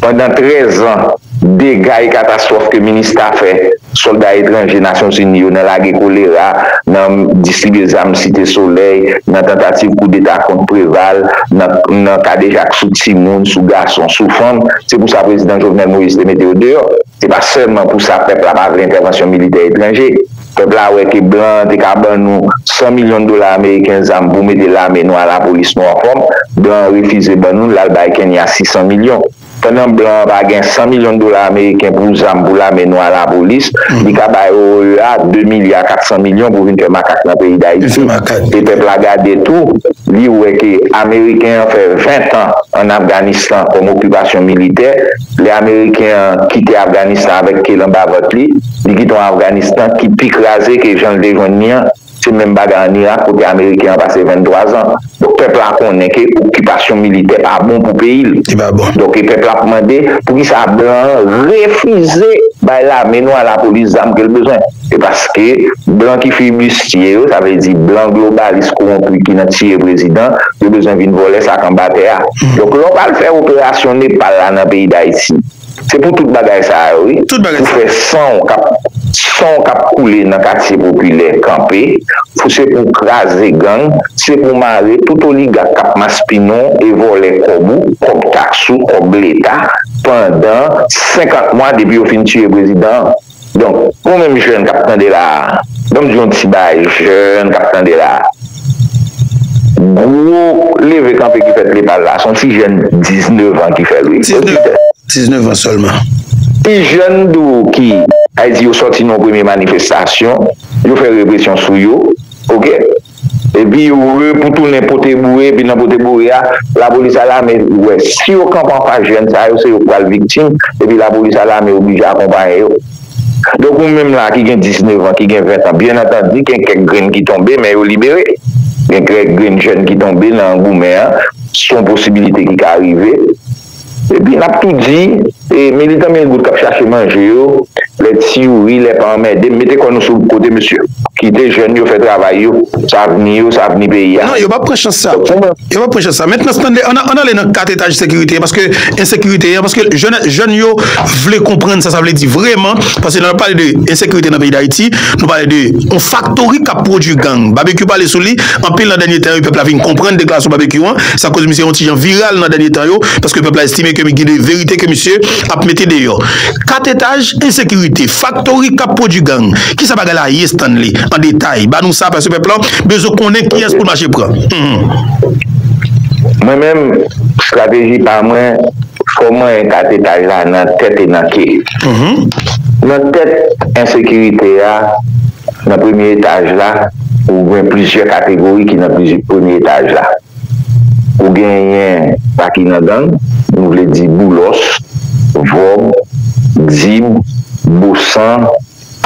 Pandan 13 an, dega e katastwòf ke minista fè, sòlda etranje Nasyonzini yo nan lage kolera, nan distribye zam Site Solèy, nan tantativ koudeta kont Preval, nan kadejak sou timoun, sou gason, sou fanm, se pou sa Prezidan Jovenel Moïse te mete yo deyò. Se pa sèlman pou sa pèp la pa vle entèvansyon militè etranje. Pèp la wè ke blan an te ka ban nou 100 milyon dola ameriken zam pou mete lame nou a lapolis nou anfòm, blan an refize ban nou l, l al bay Kenya 600 milyon. Pandan blan an pa gen 100 milyon dola ameriken pou zam pou lame nou a lapolis, li ka bay OEA 2 milya 400 milyon pou vin fè makak nan peyi Dayiti. E pèp la gade tou, li wè ke ameriken an fè 20 tan an Afganistan kòm okipasyon militè, Lè ameriken an kite Afganistan avèk ke l anba vant li, li kite yon Afganistan ki pi kraze ke jan l te jwenn li an. Se menm bagay an Irak kote ameriken an pase 23 zan. Donk pèp la konnen ke okipasyon militè pa bon pou peyi l. Li pa bon. Donk e pèp la ap mande poukisa blan an refize bay lame nou a lapolis zam ke l bezwen. Se paske blan ki flibistye yo, sa vle di blan globalis kowonpi ki nan tiye prezidan, yo bezwen vin vòlè sa k anba tè a. Donk lè w pral fè operasyon Nepal la nan peyi Dayiti, se pou tout bagay sa yo wi, pou fè san w k ap san w k ap koule nan katye popilè kanpe, pou se pou w kraze gang, se pou w mare tout oligak k ap maspinen w e vòlè kòb ou, kòb taks ou, kòb leta pandan 50 mwa depi yo fin tiye prezidan an. Donk, pou ou menm jèn k ap tande la a, ban m di yon ti bagay jèn k ap tande la a, gwo leve kanpe ki fèt Lepal la a, se yon ti jèn diznevan ki fè l wi. Diznevan sèlman. Ti jèn tou ki, sa vle di yo sòti nan yon premye manifestasyon, yo fè represyon sou yo, ok. epi yo retounen pote boure epi nan pote boure a lapolis a lame wè si yo kanpe anfas jèn sa yo se yo k pral viktim epi lapolis a lame oblije akonpaye yo donk ou menm la ki gen 19 an ki gen 20 an byen antandi gen kèk grenn ki tonbe men yo libere gen kèk grenn jèn ki tonbe nan goumen an son posibilite ki ka rive. Epi n ap tou di, militan mil goud k ap chache manje yo, lè ti youri, lè pa anmède m, mete kò nou sou kote mesye. Kite jèn yo fè travay yo, s a avni yo, s a avni peyi a. Non, yo p ap pran chans sa. Yo p ap pran chans sa. Mentnan s tande, an ale nan kat etaj sekirite an, paske ensekirite an, paske jèn yo vle konprann sa sa vle di vreman, paske lè n ap pale de ensekirite nan peyi Dayiti, nou pale de yon faktori k ap pwodui gang. Babekyou pale sou li anpil nan dènye tan yo, pèp la vin konprann deklarasyon Babekyou an. Sa koz misye yon ti jan viral nan dènye tan yo, paske pèp la estime ke gen de verite ke misye ap mete deyò. 4 etaj, ensekirite, faktori kap pwodwi gang, kisa bagay la ye Stanley? An detay, ba nou sa paske pèp la bezwen konnen kiyès poul mache pran. Mwen menm, strateji pa mwen, fò manyen 4 etaj la nan tèt e nan ke. Nan tèt ensekirite a, nan premye etaj la. Ou gen plizyè kategori ki nan plizy premye etaj la. Ou genyen sa ki nan gang, nou vle di boulòs, vòb, dib, bosan,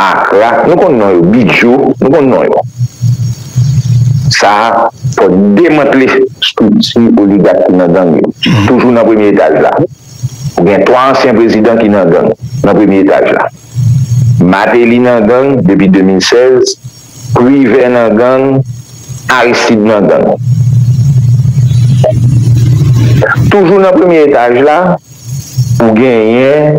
akra, nou konn non yo, bidyo, nou konn non yo. Sa fò demantle strikti oligak ki nan gang yo. Toujou nan premye etaj la. Ou gen 3 ansyen prezidan ki nan gang, nan premye etaj la. Mateli nan gang depi 2016, Privè nan gang, Aristide nan gang. Toujou nan premye etaj la, ou genyen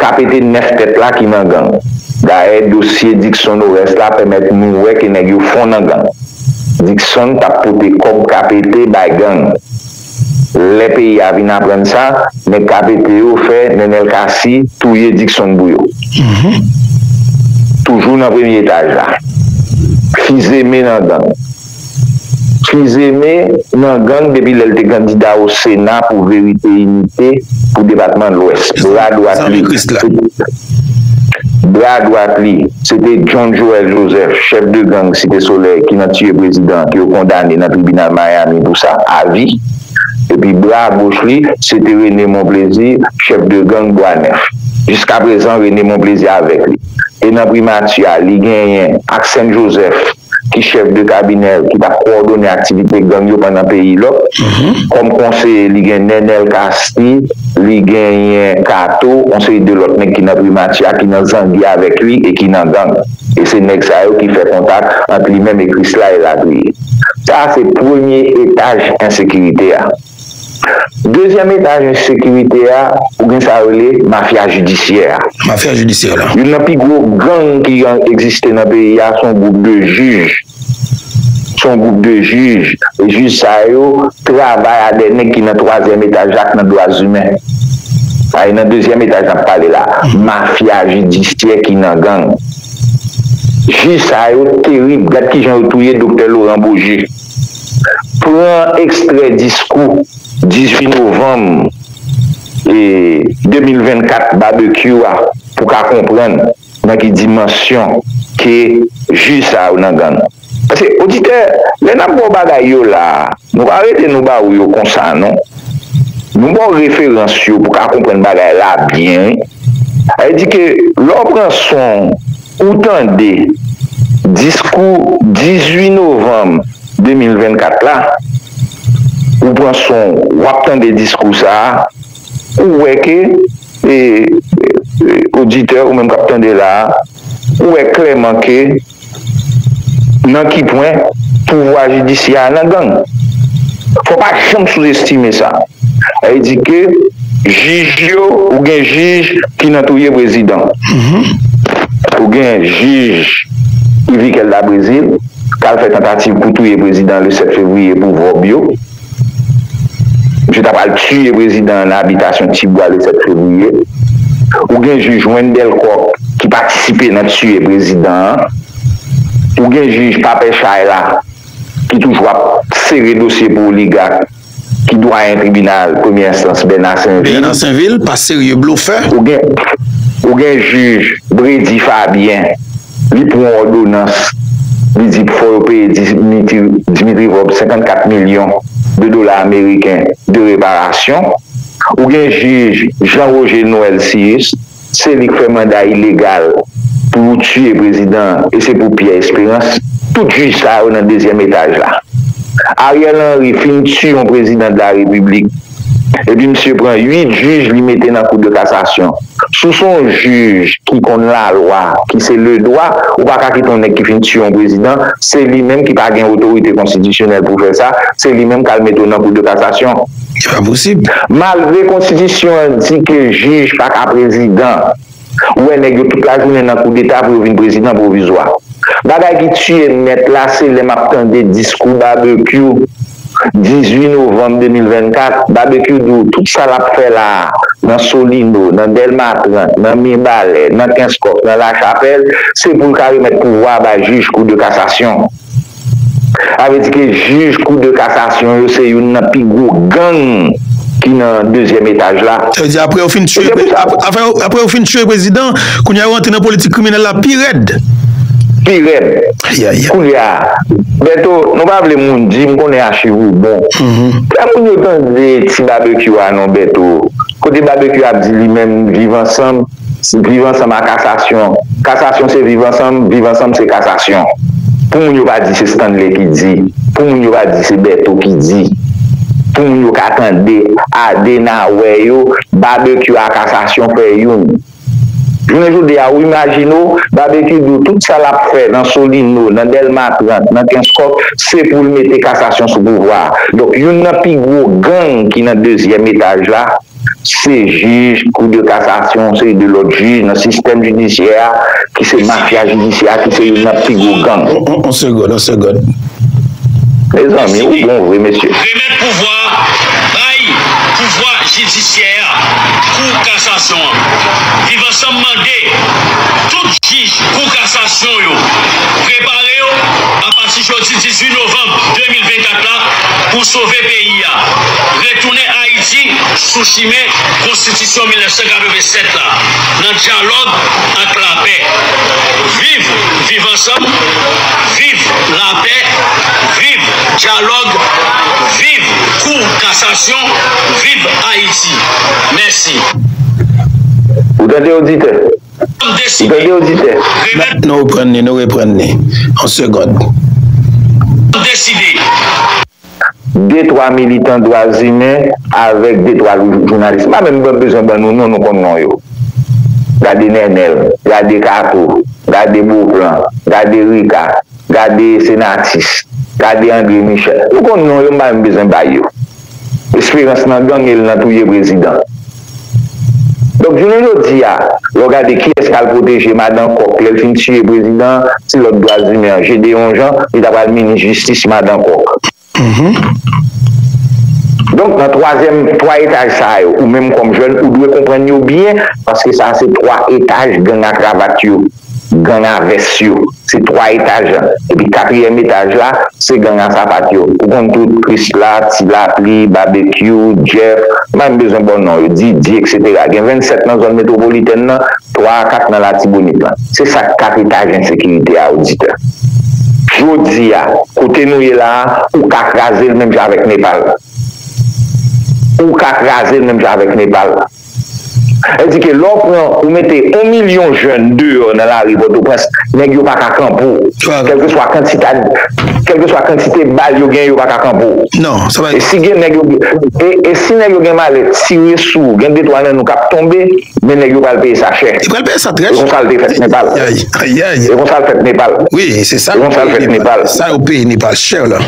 kapete 9 tèt la ki nan gang. Dayè dosye Dickson Oreste la pèmèt nou wè ke nèg yo fon nan gang. Dickson t ap pote kòb kapete bay gang. Lè peyi a vin aprann sa, nèg KPT yo fè Nenel Cassy touye Dickson Bouyo. Toujou nan premye etaj la. Fizeme nan gang. Fizeme nan gang depi lè l te kandida o Sena pou Verite Inite pou depatman Lwès. Bra dwat li. Bra dwat li, se te John Joel Joseph, chèf de gang Site Solèy ki nan tiye prezidan ke yo kondane nan tribinal Miami pou sa avi. Epi bra goch li, se te René Monplaisir, chèf de gang Bwa Nèf. Jiskaprezan René Monplaisir avèk li. E nan primati a, li genyen ak Sen Joseph. ki chèf de kabinè ki t ap kowòdone aktivite gang yo pandan peyi lòk. Kòm konseye, li gen Nenel Cassy, li genyen Kato, yon seri de lòt nèg ki nan Primati a, ki nan zangi avèk li e ki nan gang. E se nèg sa yo ki fè kontak ant li menm e Krisla elatriye. Sa a se premye etaj ensekirite a. Dezyèm etaj ensekirite a, ou gen sa yo rele mafya jidisyè a. Mafya jidisyè la. Youn nan pi gwo gang ki egziste nan peyi a se yon gwoup de jij. Se yon gwoup de jij. E jij sa yo travay a dè nèg ki nan twazyèm etaj la ak nan dwazimen. Sa e nan dezyèm etaj n ap pale la. Mafya jidisyè ki nan gang. Jij sa yo terib. Gad ki jan yo touye doktè Loran Boje. Pran ekstrè diskou 18 novanm 2024 Barbecue a pou ka konprann nan ki dimansyon ke jij sa yo nan gang. Paske oditè, lè nap baw bagay yo la, nou pa rete nou ba ou yo konsa non. Nou baw referans yo pou ka konprann bagay la byen wi. Sa vle di ke lè w pran son. Ou tande diskou 18 novanm 2024 la, ou pran son w, w ap tande diskou sa a, ou wè ke, e, oditè, ou menm k ap tande la a, ou wè klèman ke nan ki pwen pouvwa jidisyè a nan gang. Fò w pa janm souzestime sa. Sa vle di ke. Jij yo ou gen jij ki nan touye prezidan ou gen jij yvi kelda brezil kal fè tantativ pou touye prezidan le 7 fevriye pou vòb yo misye ta pral tiye prezidan an nan abitasyon ti bwa le 7 fevriye ou gen jij wendel kòk ki patisipe nan tiye prezidan an ou gen jij papè chay la ki toujou ap sere dosye pou oligak. Ki dwayen tribinal premye enstans Bèna Senvil? Bèna Senvil pa serye blofè. Ou gen jij Bredy Fabien li pran yon odonans li di fò yo peye Dimitri Vorbe 54 milyon de dola ameriken de reparasyon. Ou gen jij Jean Roger Noël Cius. Se li k fè manda ilegal pou yo tiye prezidan an e se pou Pierre Esperance. Tout jij sa yo nan dezyèm etaj la. Ariel Henry fin tiye yon prezidan de la repiblik epi misye pran 8 jij li mete nan kou de kasasyon. Si w se yon jij ki konn lalwa, ki se le dwa, ou pa ka kite yon nèg ki fin tiye yon prezidan, se li menm ki pa gen otorite konstitisyonèl pou fè sa, se li menm k al mete w nan kou de kasasyon. e pa posib. Malgre konstitisyon an di ke jij pa ka prezidan, ou wè nèg yo tout lajounen nan koudeta pou yo vin prezidan pwovizwa. Bagay ki tiye m nèt la se lè m ap tande diskou Babekyou 18 novanm 2024, Babekyou di w tout sa l ap fè la a nan Solino, nan Dèlma 30, nan Mibalè, nan Kenskòf, nan Lachapèl, se pou l ka remèt pouvwa a bay jij kou de kasasyon. Sa vle di ke jij kou de kasasyon yo se youn nan pi gwo gang ki nan dezyèm etaj la. Sa vle di apre yo fin tiye apre yo fin tiye prezidan kounye a yo rantre nan politik kriminèl la pi rèd. Pi rèd. Kounye a Bèto nou pa vle moun di m konnen achiv ou bon. Fè moun yo tande ti babekyou a non Bèto. Kote babekyou ap di li menm viv ansanm. Viv ansanm a kasasyon. Kasasyon se viv ansanm, viv ansanm se kasasyon. Pou moun yo pa di se Stanley ki di, pou moun yo pa di se Bertho ki di, pou moun yo ka tande, ade na wè yo, Babekyou a kasasyon fè youn. Jounen jodi a ou imajine w, Babekyou di w tout sa l ap fè nan Solino, nan Dèlma 30, nan Kenskòf se pou l mete kasasyon sou pouvwa a. Donk youn nan pi gwo gang ki nan dezyèm etaj la Se jij kou de kasasyon, yon seri de lòt jij nan sistèm jidisyè a ki se mafya jidisyè a ki se youn nan pi gwo gang. On segond, on segond. Mezanmi ou bon vre mesye. Remèt pouvwa a bay pouvwa jidisyè a, kou kasasyon an. Viv ansanm mande tout jij kou kasasyon yo prepare yo apati jodi 18 novanm 2024 la pou sove peyi a retounen Ayiti sou chimen konstitisyon 1987 la nan dyalòg ak lapè. Viv Viv ansanm Viv lapè Viv dyalòg Viv kou kasasyon Viv Ayiti Mèsi. detwa militan dwa zimen avèk detwa jounalis, m pa menm bezwen ban nou non, nou konn non yo, gade Nènèl, gade Kato, gade Boplan, gade Rika, gade Senatus, gade Andre Michel, nou konn non yo m pa menm bezwen bay yo, Esperans nan gang e l nan touye prezidan. Donk jounen jodi a, lè w gade kiyès k al pwoteje madan kòk lè l fin tiye prezidan an, se lòt dwazimen an, Gédéon Jean, li ta pral minis jistis madan kòk. Donk nan twazyèm, twa etaj sa yo, ou menm kòm jèn, ou dwe konprann yo byen paske sa se twa etaj gang a kravat yo. Ganga vès yo se 3 etaj epi katriyèm etaj la se ganga sapat yo ou konn tout krisla, ti lapli, babekyou, jeff m pa menm bezwen ba w non yo, didye eksetera gen 27 nan zòn metwopolitèn nan 3 a 4 nan latibonit lan se sa k 4 etaj ensekirite a oditè jodi a kote nou ye la a ou ka kraze l menm jan avèk nepal ou ka kraze l menm jan avèk nepal. Sa vle di ke lè w pran, ou mete yon milyon jèn deyò nan lari Pòtoprens, nèg yo pa ka kanpe w. Kèlkeswa kantita, kèlkeswa kantite bal yo genyen, yo pa ka kanpe w. Non, sa pa. E si gen nèg yo, e si nèg yo gen malèt tire sou w, gen de twa nan nou k ap tonbe, men nèg yo pral peye sa chè. Yo pral peye sa trè chè. E konsa l te fèt Nepal. Ayayayayay. E konsa l fèt Nepal. Wi, se sa yo peye Nepal. Sa yo peye Nepal. Chè la.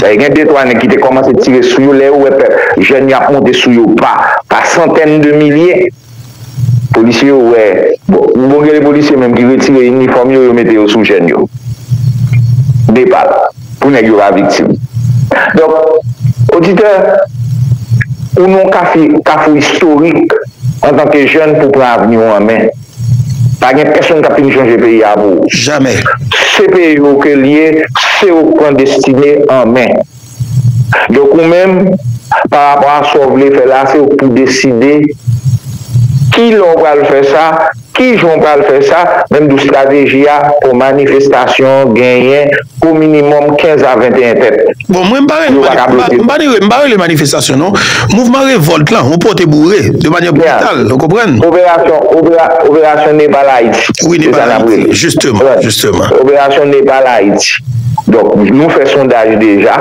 Daye gen de twa nèg ki te kòmanse tire sou yo, lè yo wè pèp jèn yo ap monte sou yo pa pa santèn de milye, polisye yo wè, bon gen de polisye menm ki retire inifòm yo, yo mete yo sou jèn yo, Nepal, pou nèg yo pa viktim. Donk, oditè, ou nan yon kafou istorik antanke jèn pou pran avni ou an men. Pa gen pèsonn kap fin chanje peyi a pou ou. Jamè. Se peyi ou ke li ye, se ou k pran destine an men. Donk ou menm, pa rapò a sa w vle fè la, se ou k pou deside ki lè w pral fè sa, ki jan w pral fè sa, menm tou strateji a pou manifestasyon genyen. O minimòm 15 a 21 tèt. Bon mwen m pa rele manifestasyon m pa rele m pa rele manifestasyon non mouvman revòlt lan ou pote boure de manyè brital ou konprann. Operasyon operasyon Nepal Ayiti wi Nepal Ayiti jisteman jisteman. Operasyon Nepal Ayiti donk nou fè sondaj deja.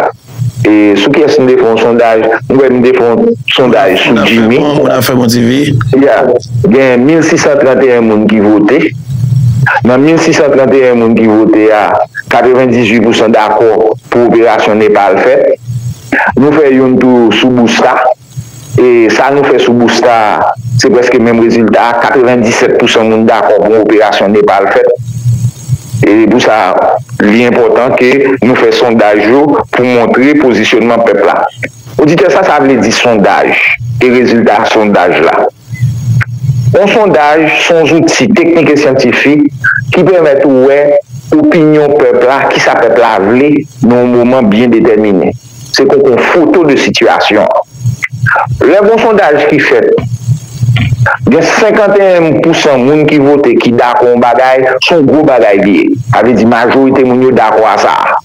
E sou kiyès nou te fè yon sondaj? M kwè nou te fè yon sondaj sou Jimmy. Bon, moun ap fè bon ti vi. Ya, gen 1631 moun ki vote. Nan 1631 moun ki vote a, 98 pousan dakò pou operasyon Nepal fèt. Nou fè youn tou sou Bouska. E sa nou fè sou Busta a, se prèske menm rezilta a, 97 pousan moun dakò pou yon operasyon Nepal fèt. E pou sa, li enpòtan ke nou fè sondaj yo pou montre pozisyonman pèp la. Oditè, sa sa vle di sondaj e rezilta sondaj la? Yon sondaj se yon zouti teknik e syantifik ki pèmèt ou wè opinyon pèp la, kisa pèp la vle nan yon moman byen detèmine. Se pou kon foto de sitiyasyon an. Lè gon sondaj ki fèt, gen 51 pou san moun ki vote ki dakò yon bagay, se yon gwo bagay li ye. Sa vle di majorite moun yo dakò a sa a.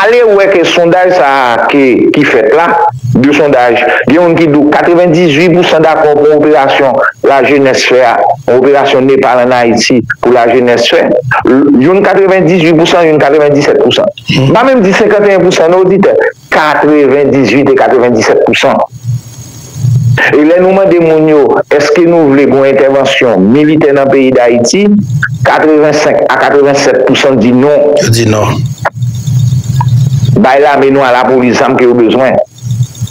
Ale wè ke sondaj sa a ke ki fèt la, de sondaj, gen moun ki di w 98 pou san dakò pou yon operasyon lajenès fè a, yon operasyon Nepal an Ayiti. pou lajenès fè, youn 98 pousan, youn 97 pousan. M pa menm di 51 pousan non oditè, 98 e 97 pousan. E lè nou mande moun yo, eske nou vle gon entèvansyon militè nan peyi Dayiti, 85 a 87 pousan di non. Yo di non. Bay lame nou a lapolis zam ke yo bezwen.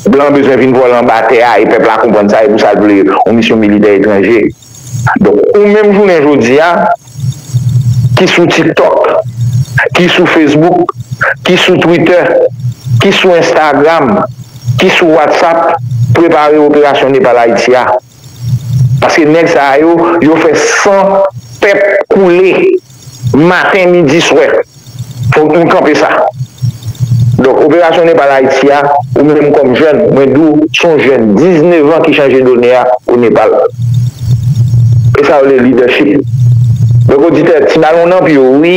Blan bezwen vin vòlè anba tè a e pèp la konprann sa e pou sa l vle yon misyon militè etranje. Donk ou menm jounen jodi a ki sou tiktok, ki sou facebook, ki sou twitter, ki sou instagram, ki sou whatsapp prepare operasyon nepal ayiti a. Paske nèg sa yo yo fè san pèp koule. Maten, midi, swè. Fòk nou kanpe sa. Donk, operasyon Nepal Ayiti a, ou menm kòm jèn, mwen di w, se yon jèn 19 an ki chanje done a o Nepal. E sa yo rele lidèchip. Donk oditè, ti balon nan pye w wi.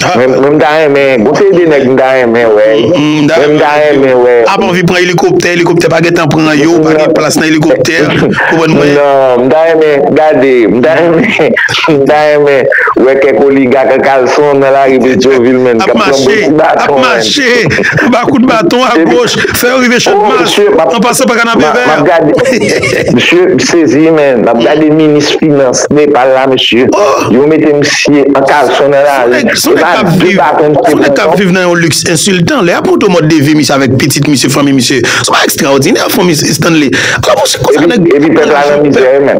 Mwen m ta renmen, gon seri de nèg m ta renmen wè. Mwen m ta renmen wè. A pa anvi pran elikoptè, elikoptè pa gen tan pran yo, pa gen plas nan elikoptè, konprann mwen? Non, m ta renmen gade, m ta renmen. M ta renmen wè kèk oligak an kalson nan lari Petyonvil menn kap pran bon kout baton menn. Ap mache, ap mache, anba kout baton agoch, fè yo rive Channmas, an pasan pa Kanapevè. Map gade, msye, m sezi menn, map gade minis finans Nepal la msye, yo mete msye an kalson nan lari, se pa de baton msye pran non. Son nèg kap viv nan yon liks ensiltan, lè yap montre w mòd de vi misye avèk pitit misye, fanmi misye, son bagay ekstraòdinè Stanley. Ala msye konsa nèg. Epi pèp la nan mizè menn.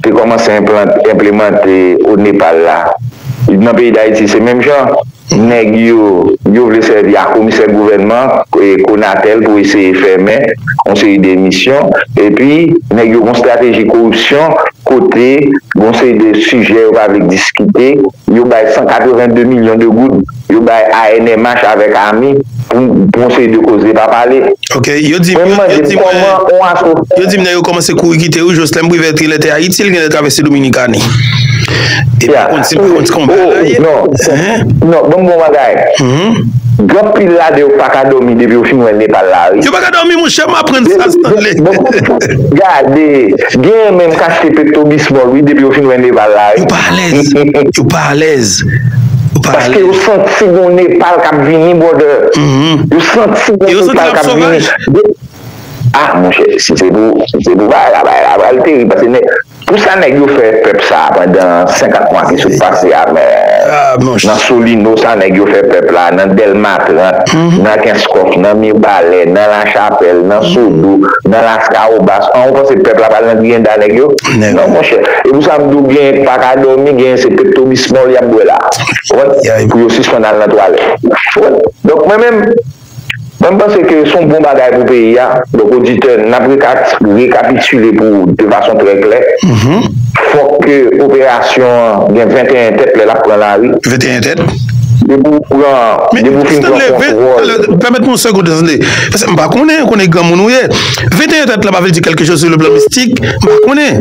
te kòmanse enplemante o Nepal la, nan peyi Dayiti se menm jan, nèg yo, yo vle sèvi a komisè gouvènman, Konatel pou eseye fèmen yon seri de misyon, epi nèg yo gon strateji koripsyon kote gon seri de sijè yo pa vle diskite, yo bay 182 milyon de goud. Yo bay ANMH avèk ami pou pou yon seri de koz li pa pale. Ok, yo di m, Mwen mande yo di m mwen, kòman yon aso. Yo di m nèg yo kòmanse kouri kite yo, Joslèn Privèti lè te Ayiti li gen lè travèse Dominikani. E pa konn si m pa konn ti konpa la ye. Non, non, ban m di w yon bagay, gen pil ladan yo pa ka dòmi depi yo fin wè Nepal la wi. Yo pa ka dòmi mouchè, m aprann sa Stanley. Gade, genyen menm k achte Pepto-Bismol wi depi yo fin wè Nepal la wi. Yo pa alèz, yo pa alèz. Ou pa ale. Paske yo santi gon Nepal kap vini brother. Yo santi gon Nepal kap vini. Ah monchè si se pou si se pou bagay la bagay la pral terib paske nèg pou sa nèg yo fè pèp sa pandan 50 mwa ki sot pase a men nan solino sa nèg yo fè pèp la nan dèlma 30 nan kenskòf nan mibalè nan lachapèl nan sodo nan laskawobas an ou panse pèp la pral nan griyenda nèg yo. nèg. Non monchè, e pou sa m di w genyen k pa ka dòmi, genyen se peptobismol y ap bwè la a pou yo sispann al nan twalèt. Donk mwen menm, mwen m panse ke s on bon bagay pou peyi a. Donk oditè, n ap rekapitile pou ou de fason trè klè, fòk ke operasyon an gen 21 tèt lè l ap pran lari. 21 tèt? Depi w pran, depi w fin pran kontwòl. Pèmèt mwen yon segonde tande, paske m pa konnen, konnen granmoun ou ye. 21 dat la pa vle di kelke choz sou le plan mistik, m pa konnen.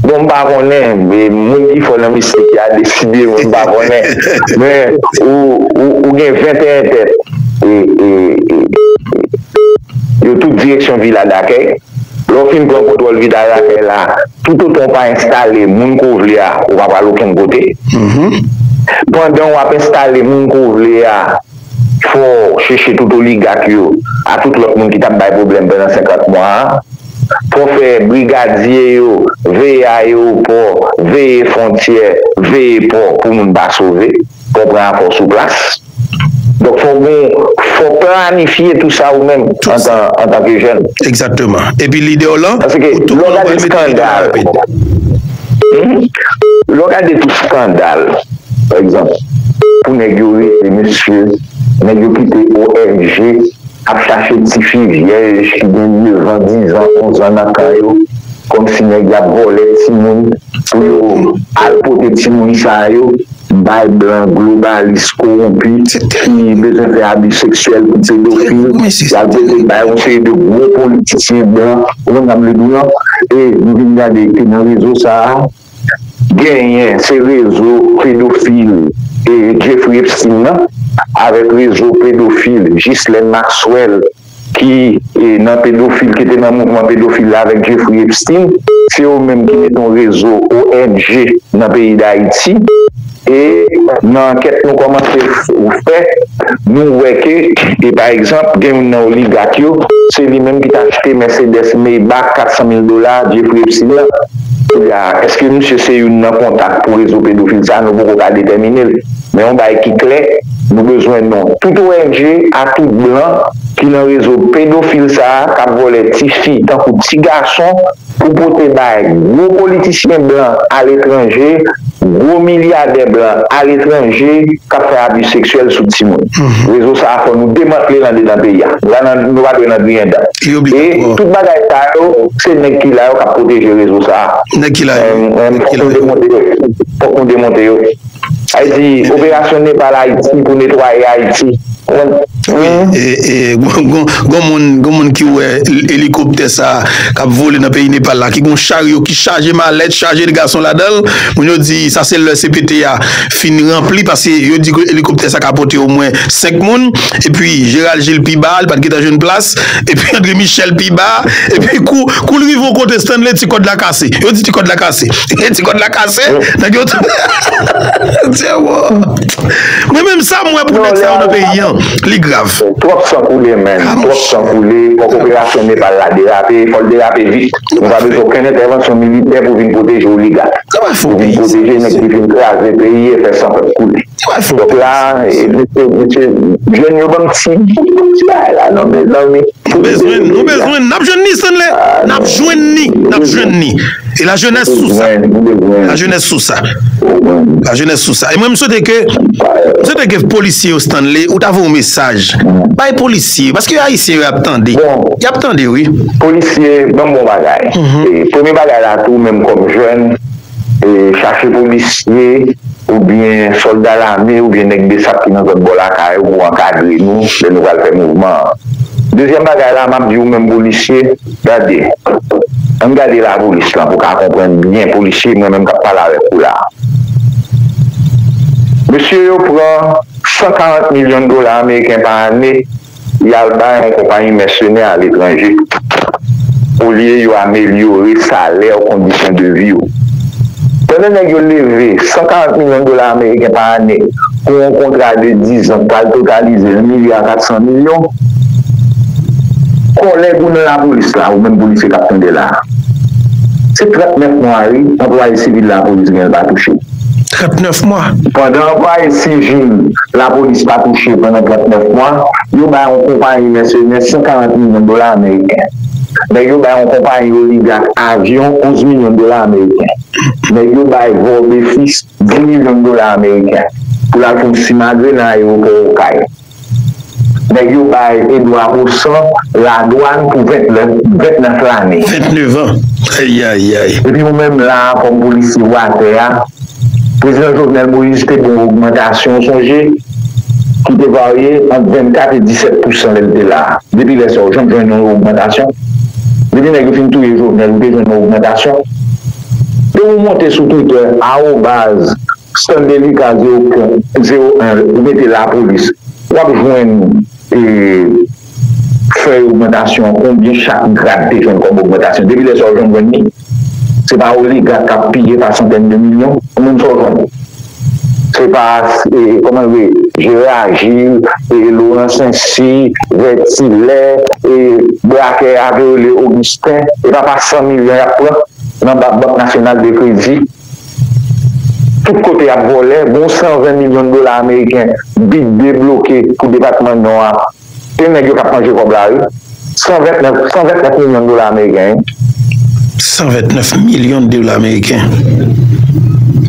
Bon m pa konnen, moun ki fò nan mistik ya deside m pa konnen, men ou gen 21 tèt yo tout direksyon vila dakèy, lè w fin pran kontwòl vila dakèy la, tout otan w pa enstale moun ke w vle a ou pa pral okenn kote, pandan w ap enstale moun ke w vle a. Fò w cheche tout oligak yo a tout lòt moun ki tap bay pwoblèm pandan 50 mwa a. Fò w fè brigadye yo veye ayewopò, veye fwontyè, veye pò pou moun pa sove. Fò w pran a fò w sou plas. Donk fò w gen, fò w planifye tout sa ou menm antanke jèn. Egzakteman. Epi lide w lan, pou tout moun wè l mete lide w lan rapid. Lè w gade tout skandal, pa egzanp, pou nèg yo rete mesye, nèg yo kite ONG ap chache tifi vyèj ki gen nevan, dizan, onzan nan kan yo, kòmsi nèg y ap vòlè timoun pou yo al pote timoun sa yo. Bay blan globalis kowonpi tit fi bezwen fè abi seksyèl pou pedofil yal pote bay yon seri de gwo politisyen blan ou konn sam vle diw lan e nou vin gade ke nan rezo sa genyen se rezo pedofil e Jeffrey Epstein nan avèk rezo pedofil Ghislaine Maxwell. ki nan pedofil ki te nan mouvman pedofil la avèk Jeffrey Epstein se yo menm ki mete yon rezo ong nan peyi dayiti e nan ankèt nou kòmanse fè nou wè ke e pa egzanp gen youn nan oligak yo se li menm ki te achte mèsedès maybach 400 mil dola Jeffrey Epstein nan koulye a eske misye se youn nan kontak pou rezo pedofil sa nou poko ka detèminel. Men yon bagay ki klè, nou bezwen non tout ong a tout blan ki lan rezo pedofil sa a kap vòlè ti fi tankou ti gason pou pote bay gwo politisyen blan aletranje, gwo milyadè blan aletranje kap fè abi seksyèl sou timoun. Rezo sa a fò nou demantle l andedan peyi a. Nou pa dwe nan griyen dan. E tout bagay sa yo se nèg ki la yo kap pwoteje rezo sa a. Fòk nou demonte yo. Sa vle di operasyon Nepal Ayiti pou netwaye Ayiti. Wi gon moun gon moun ki wè elikoptè sa kap vole nan peyi Nepal la ki gon charyo ki chaje malèt chaje de gason ladanl moun yo di sa se lè CPT a fin ranpli paske yo di ke elikoptè sa ka pote omwen 5 moun epi Gerald Gilles pi ba li pat gentan jwenn plas epi André Michel pi ba epi kou koul rive yon kote Stanley ti kòd la kase yo di ti kòd la kase Ti kòd la kase. Nèg yo tou. Dyewo. Mwen menm sa m wè pou nèg sa yo nan peyi an. Li grav. Twòp san koule menn. Twòp san koule. Fòk operasyon Nepal la derape. Fò l derape vit. Nou pa bezwen okenn entèvansyon militè pou vin pwoteje oligat. Pou vin pwoteje nèg ki fin kraze peyi e fè san pèp koule. Donk la mesye mesye jèn yo banm ti banm ti bagay la non mezanmi. Nou bezwenn nou bezwenn nap jwenn li Stanley nap jwenn li nap jwenn li e la jenès sou sa la jenès sou sa la jenès sou sa e mwen m swete ke m swete ke polisye yo Stanley ou ta voye yon mesaj bay polisye yo paske ayisyen yo ap tande yap tande wi. Polisye banm bon bagay premye bagay la tou menm kòm jèn. Chache polisye oubyen sòlda lame oubyen nèg bsap ki nan zòn bò lakay ou pou ankadre nou lè nou pral fè mouvman an. Dezyèm bagay la, m ap di ou menm polisye, gade, ann gade lapolis lan pou w ka konprann byen, polisye mwen menm k ap pale avèk ou la a. Mesye yo pran 140 milyon dola ameriken pa ane. y al bay yon konpayi mèsenè aletranje olye yo amelyore salè w, kondisyon de vi w. Pandan nèg yo leve 140 milyon dola ameriken pa ane pou yon kontra de dizan k pral totalize 1 milya 400 milyon, kòlèg ou nan lapolis la, ou menm polisye k ap tande la a, se 39 mwa wi anplwaye sivil lapolis gen l pa touche. 39 mwa. Pandan anplwaye sivil lapolis pa touche pandan 39 mwa, yo bay yon konpayi mèsenè 140 milyon dola ameriken. Nèg yo bay yon konpayi oligak avyon 11 milyon dola ameriken. Nèg yo bay Vorbéfis 10 milyon dola ameriken pou l al fè yon simagri nan ayewopò Okay. Nèg yo bay Edouard Roussan ladwann pou 29 lane. 29 an! Ayayay! Epi ou menm la a kòm polisye ou atè a, Prezidan Jovenel Moïse te ba w ogmantasyon ou sonje, ki te varye ant 24 e 17 pousan lè l te la a. Depi lè sa a ou janm jwenn yon ogmantasyon? Depi nèg yo fin touye Jovenel ou te jwenn yon ogmantasyon? Depi w monte sou Twitter, arobaz. Sèl delikan zero pwen zero en ou mete lapolis wap jwenn fèy ogmantasyon konbyen chak grad te jwenn kòm ogmantasyon depi lè sa ou jwenn jwenn li se pa oligak kap piye pa santèn de milyon konbyen sa ou jwenn se pa kòman rele Jera Jil Loran Sensi Vètilè brakè a te rele Ogisten epa pa san milyon yap pran nan bank nasyonal de kredi. Tout kote yap vòlè, gon 120 milyon dola ameriken bid debloke pou depatman nò a, se nèg yo kap manje kòb la wi, 129, 129 milyon dola ameriken wi. 129 milyon dola ameriken.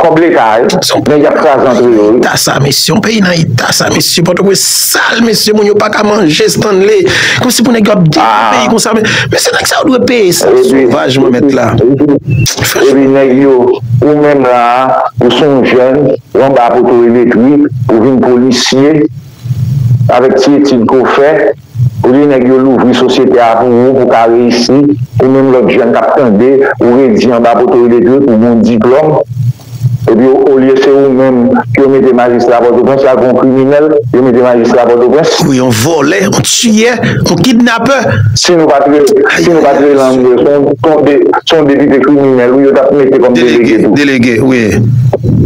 Kòb leta a wi, nèg yap kraze antre yo wi. Eta sa mesye, yon peyi nan eta sa mesye, pòtoprens sal mesye, moun yo paka manje Stanley, kòmsi pou nèg yo ap detwi peyi konsa, mesye nèg sa yo dwe peye sa sovaj mwen mèt la. Epi nèg yo ou menm la a ou son jèn ou anba poto elektrik ou vin polisye avèk ti etid ke w fè olye nèg yo louvri sosyete a pou ou pou w ka reyisi ou menm lòt jèn k ap tande ou redi anba poto elektrik ou gen yon diplòm epi olye se ou menm ke yo mete majistra pòtoprens la ke w yon kriminèl yo mete majistra pòtoprens. Ou yon vòlè yon tiyè yon kidnapè. Si nou pa t rele ann rele son de. se yon depite kriminèl wi yo tap mete kòm delege tou. Delege wi.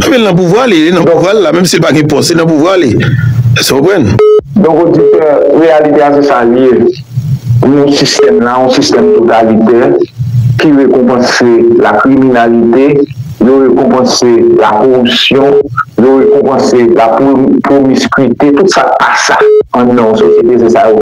Anben l nan pouvwa li, li nan pouvwa l la menm si l pa gen pòs li nan pouvwa li. Èske w konprann? Donk oditè, reyalite a se sa l ye. Nou yon sistèm la, yon sistèm totalitè ki rekonpanse lakriminalite, yo rekonpanse lakoripsyon, yo rekonpanse lapromiskwite, tout sa k pa sa. An nan yon sosyete se sa yo.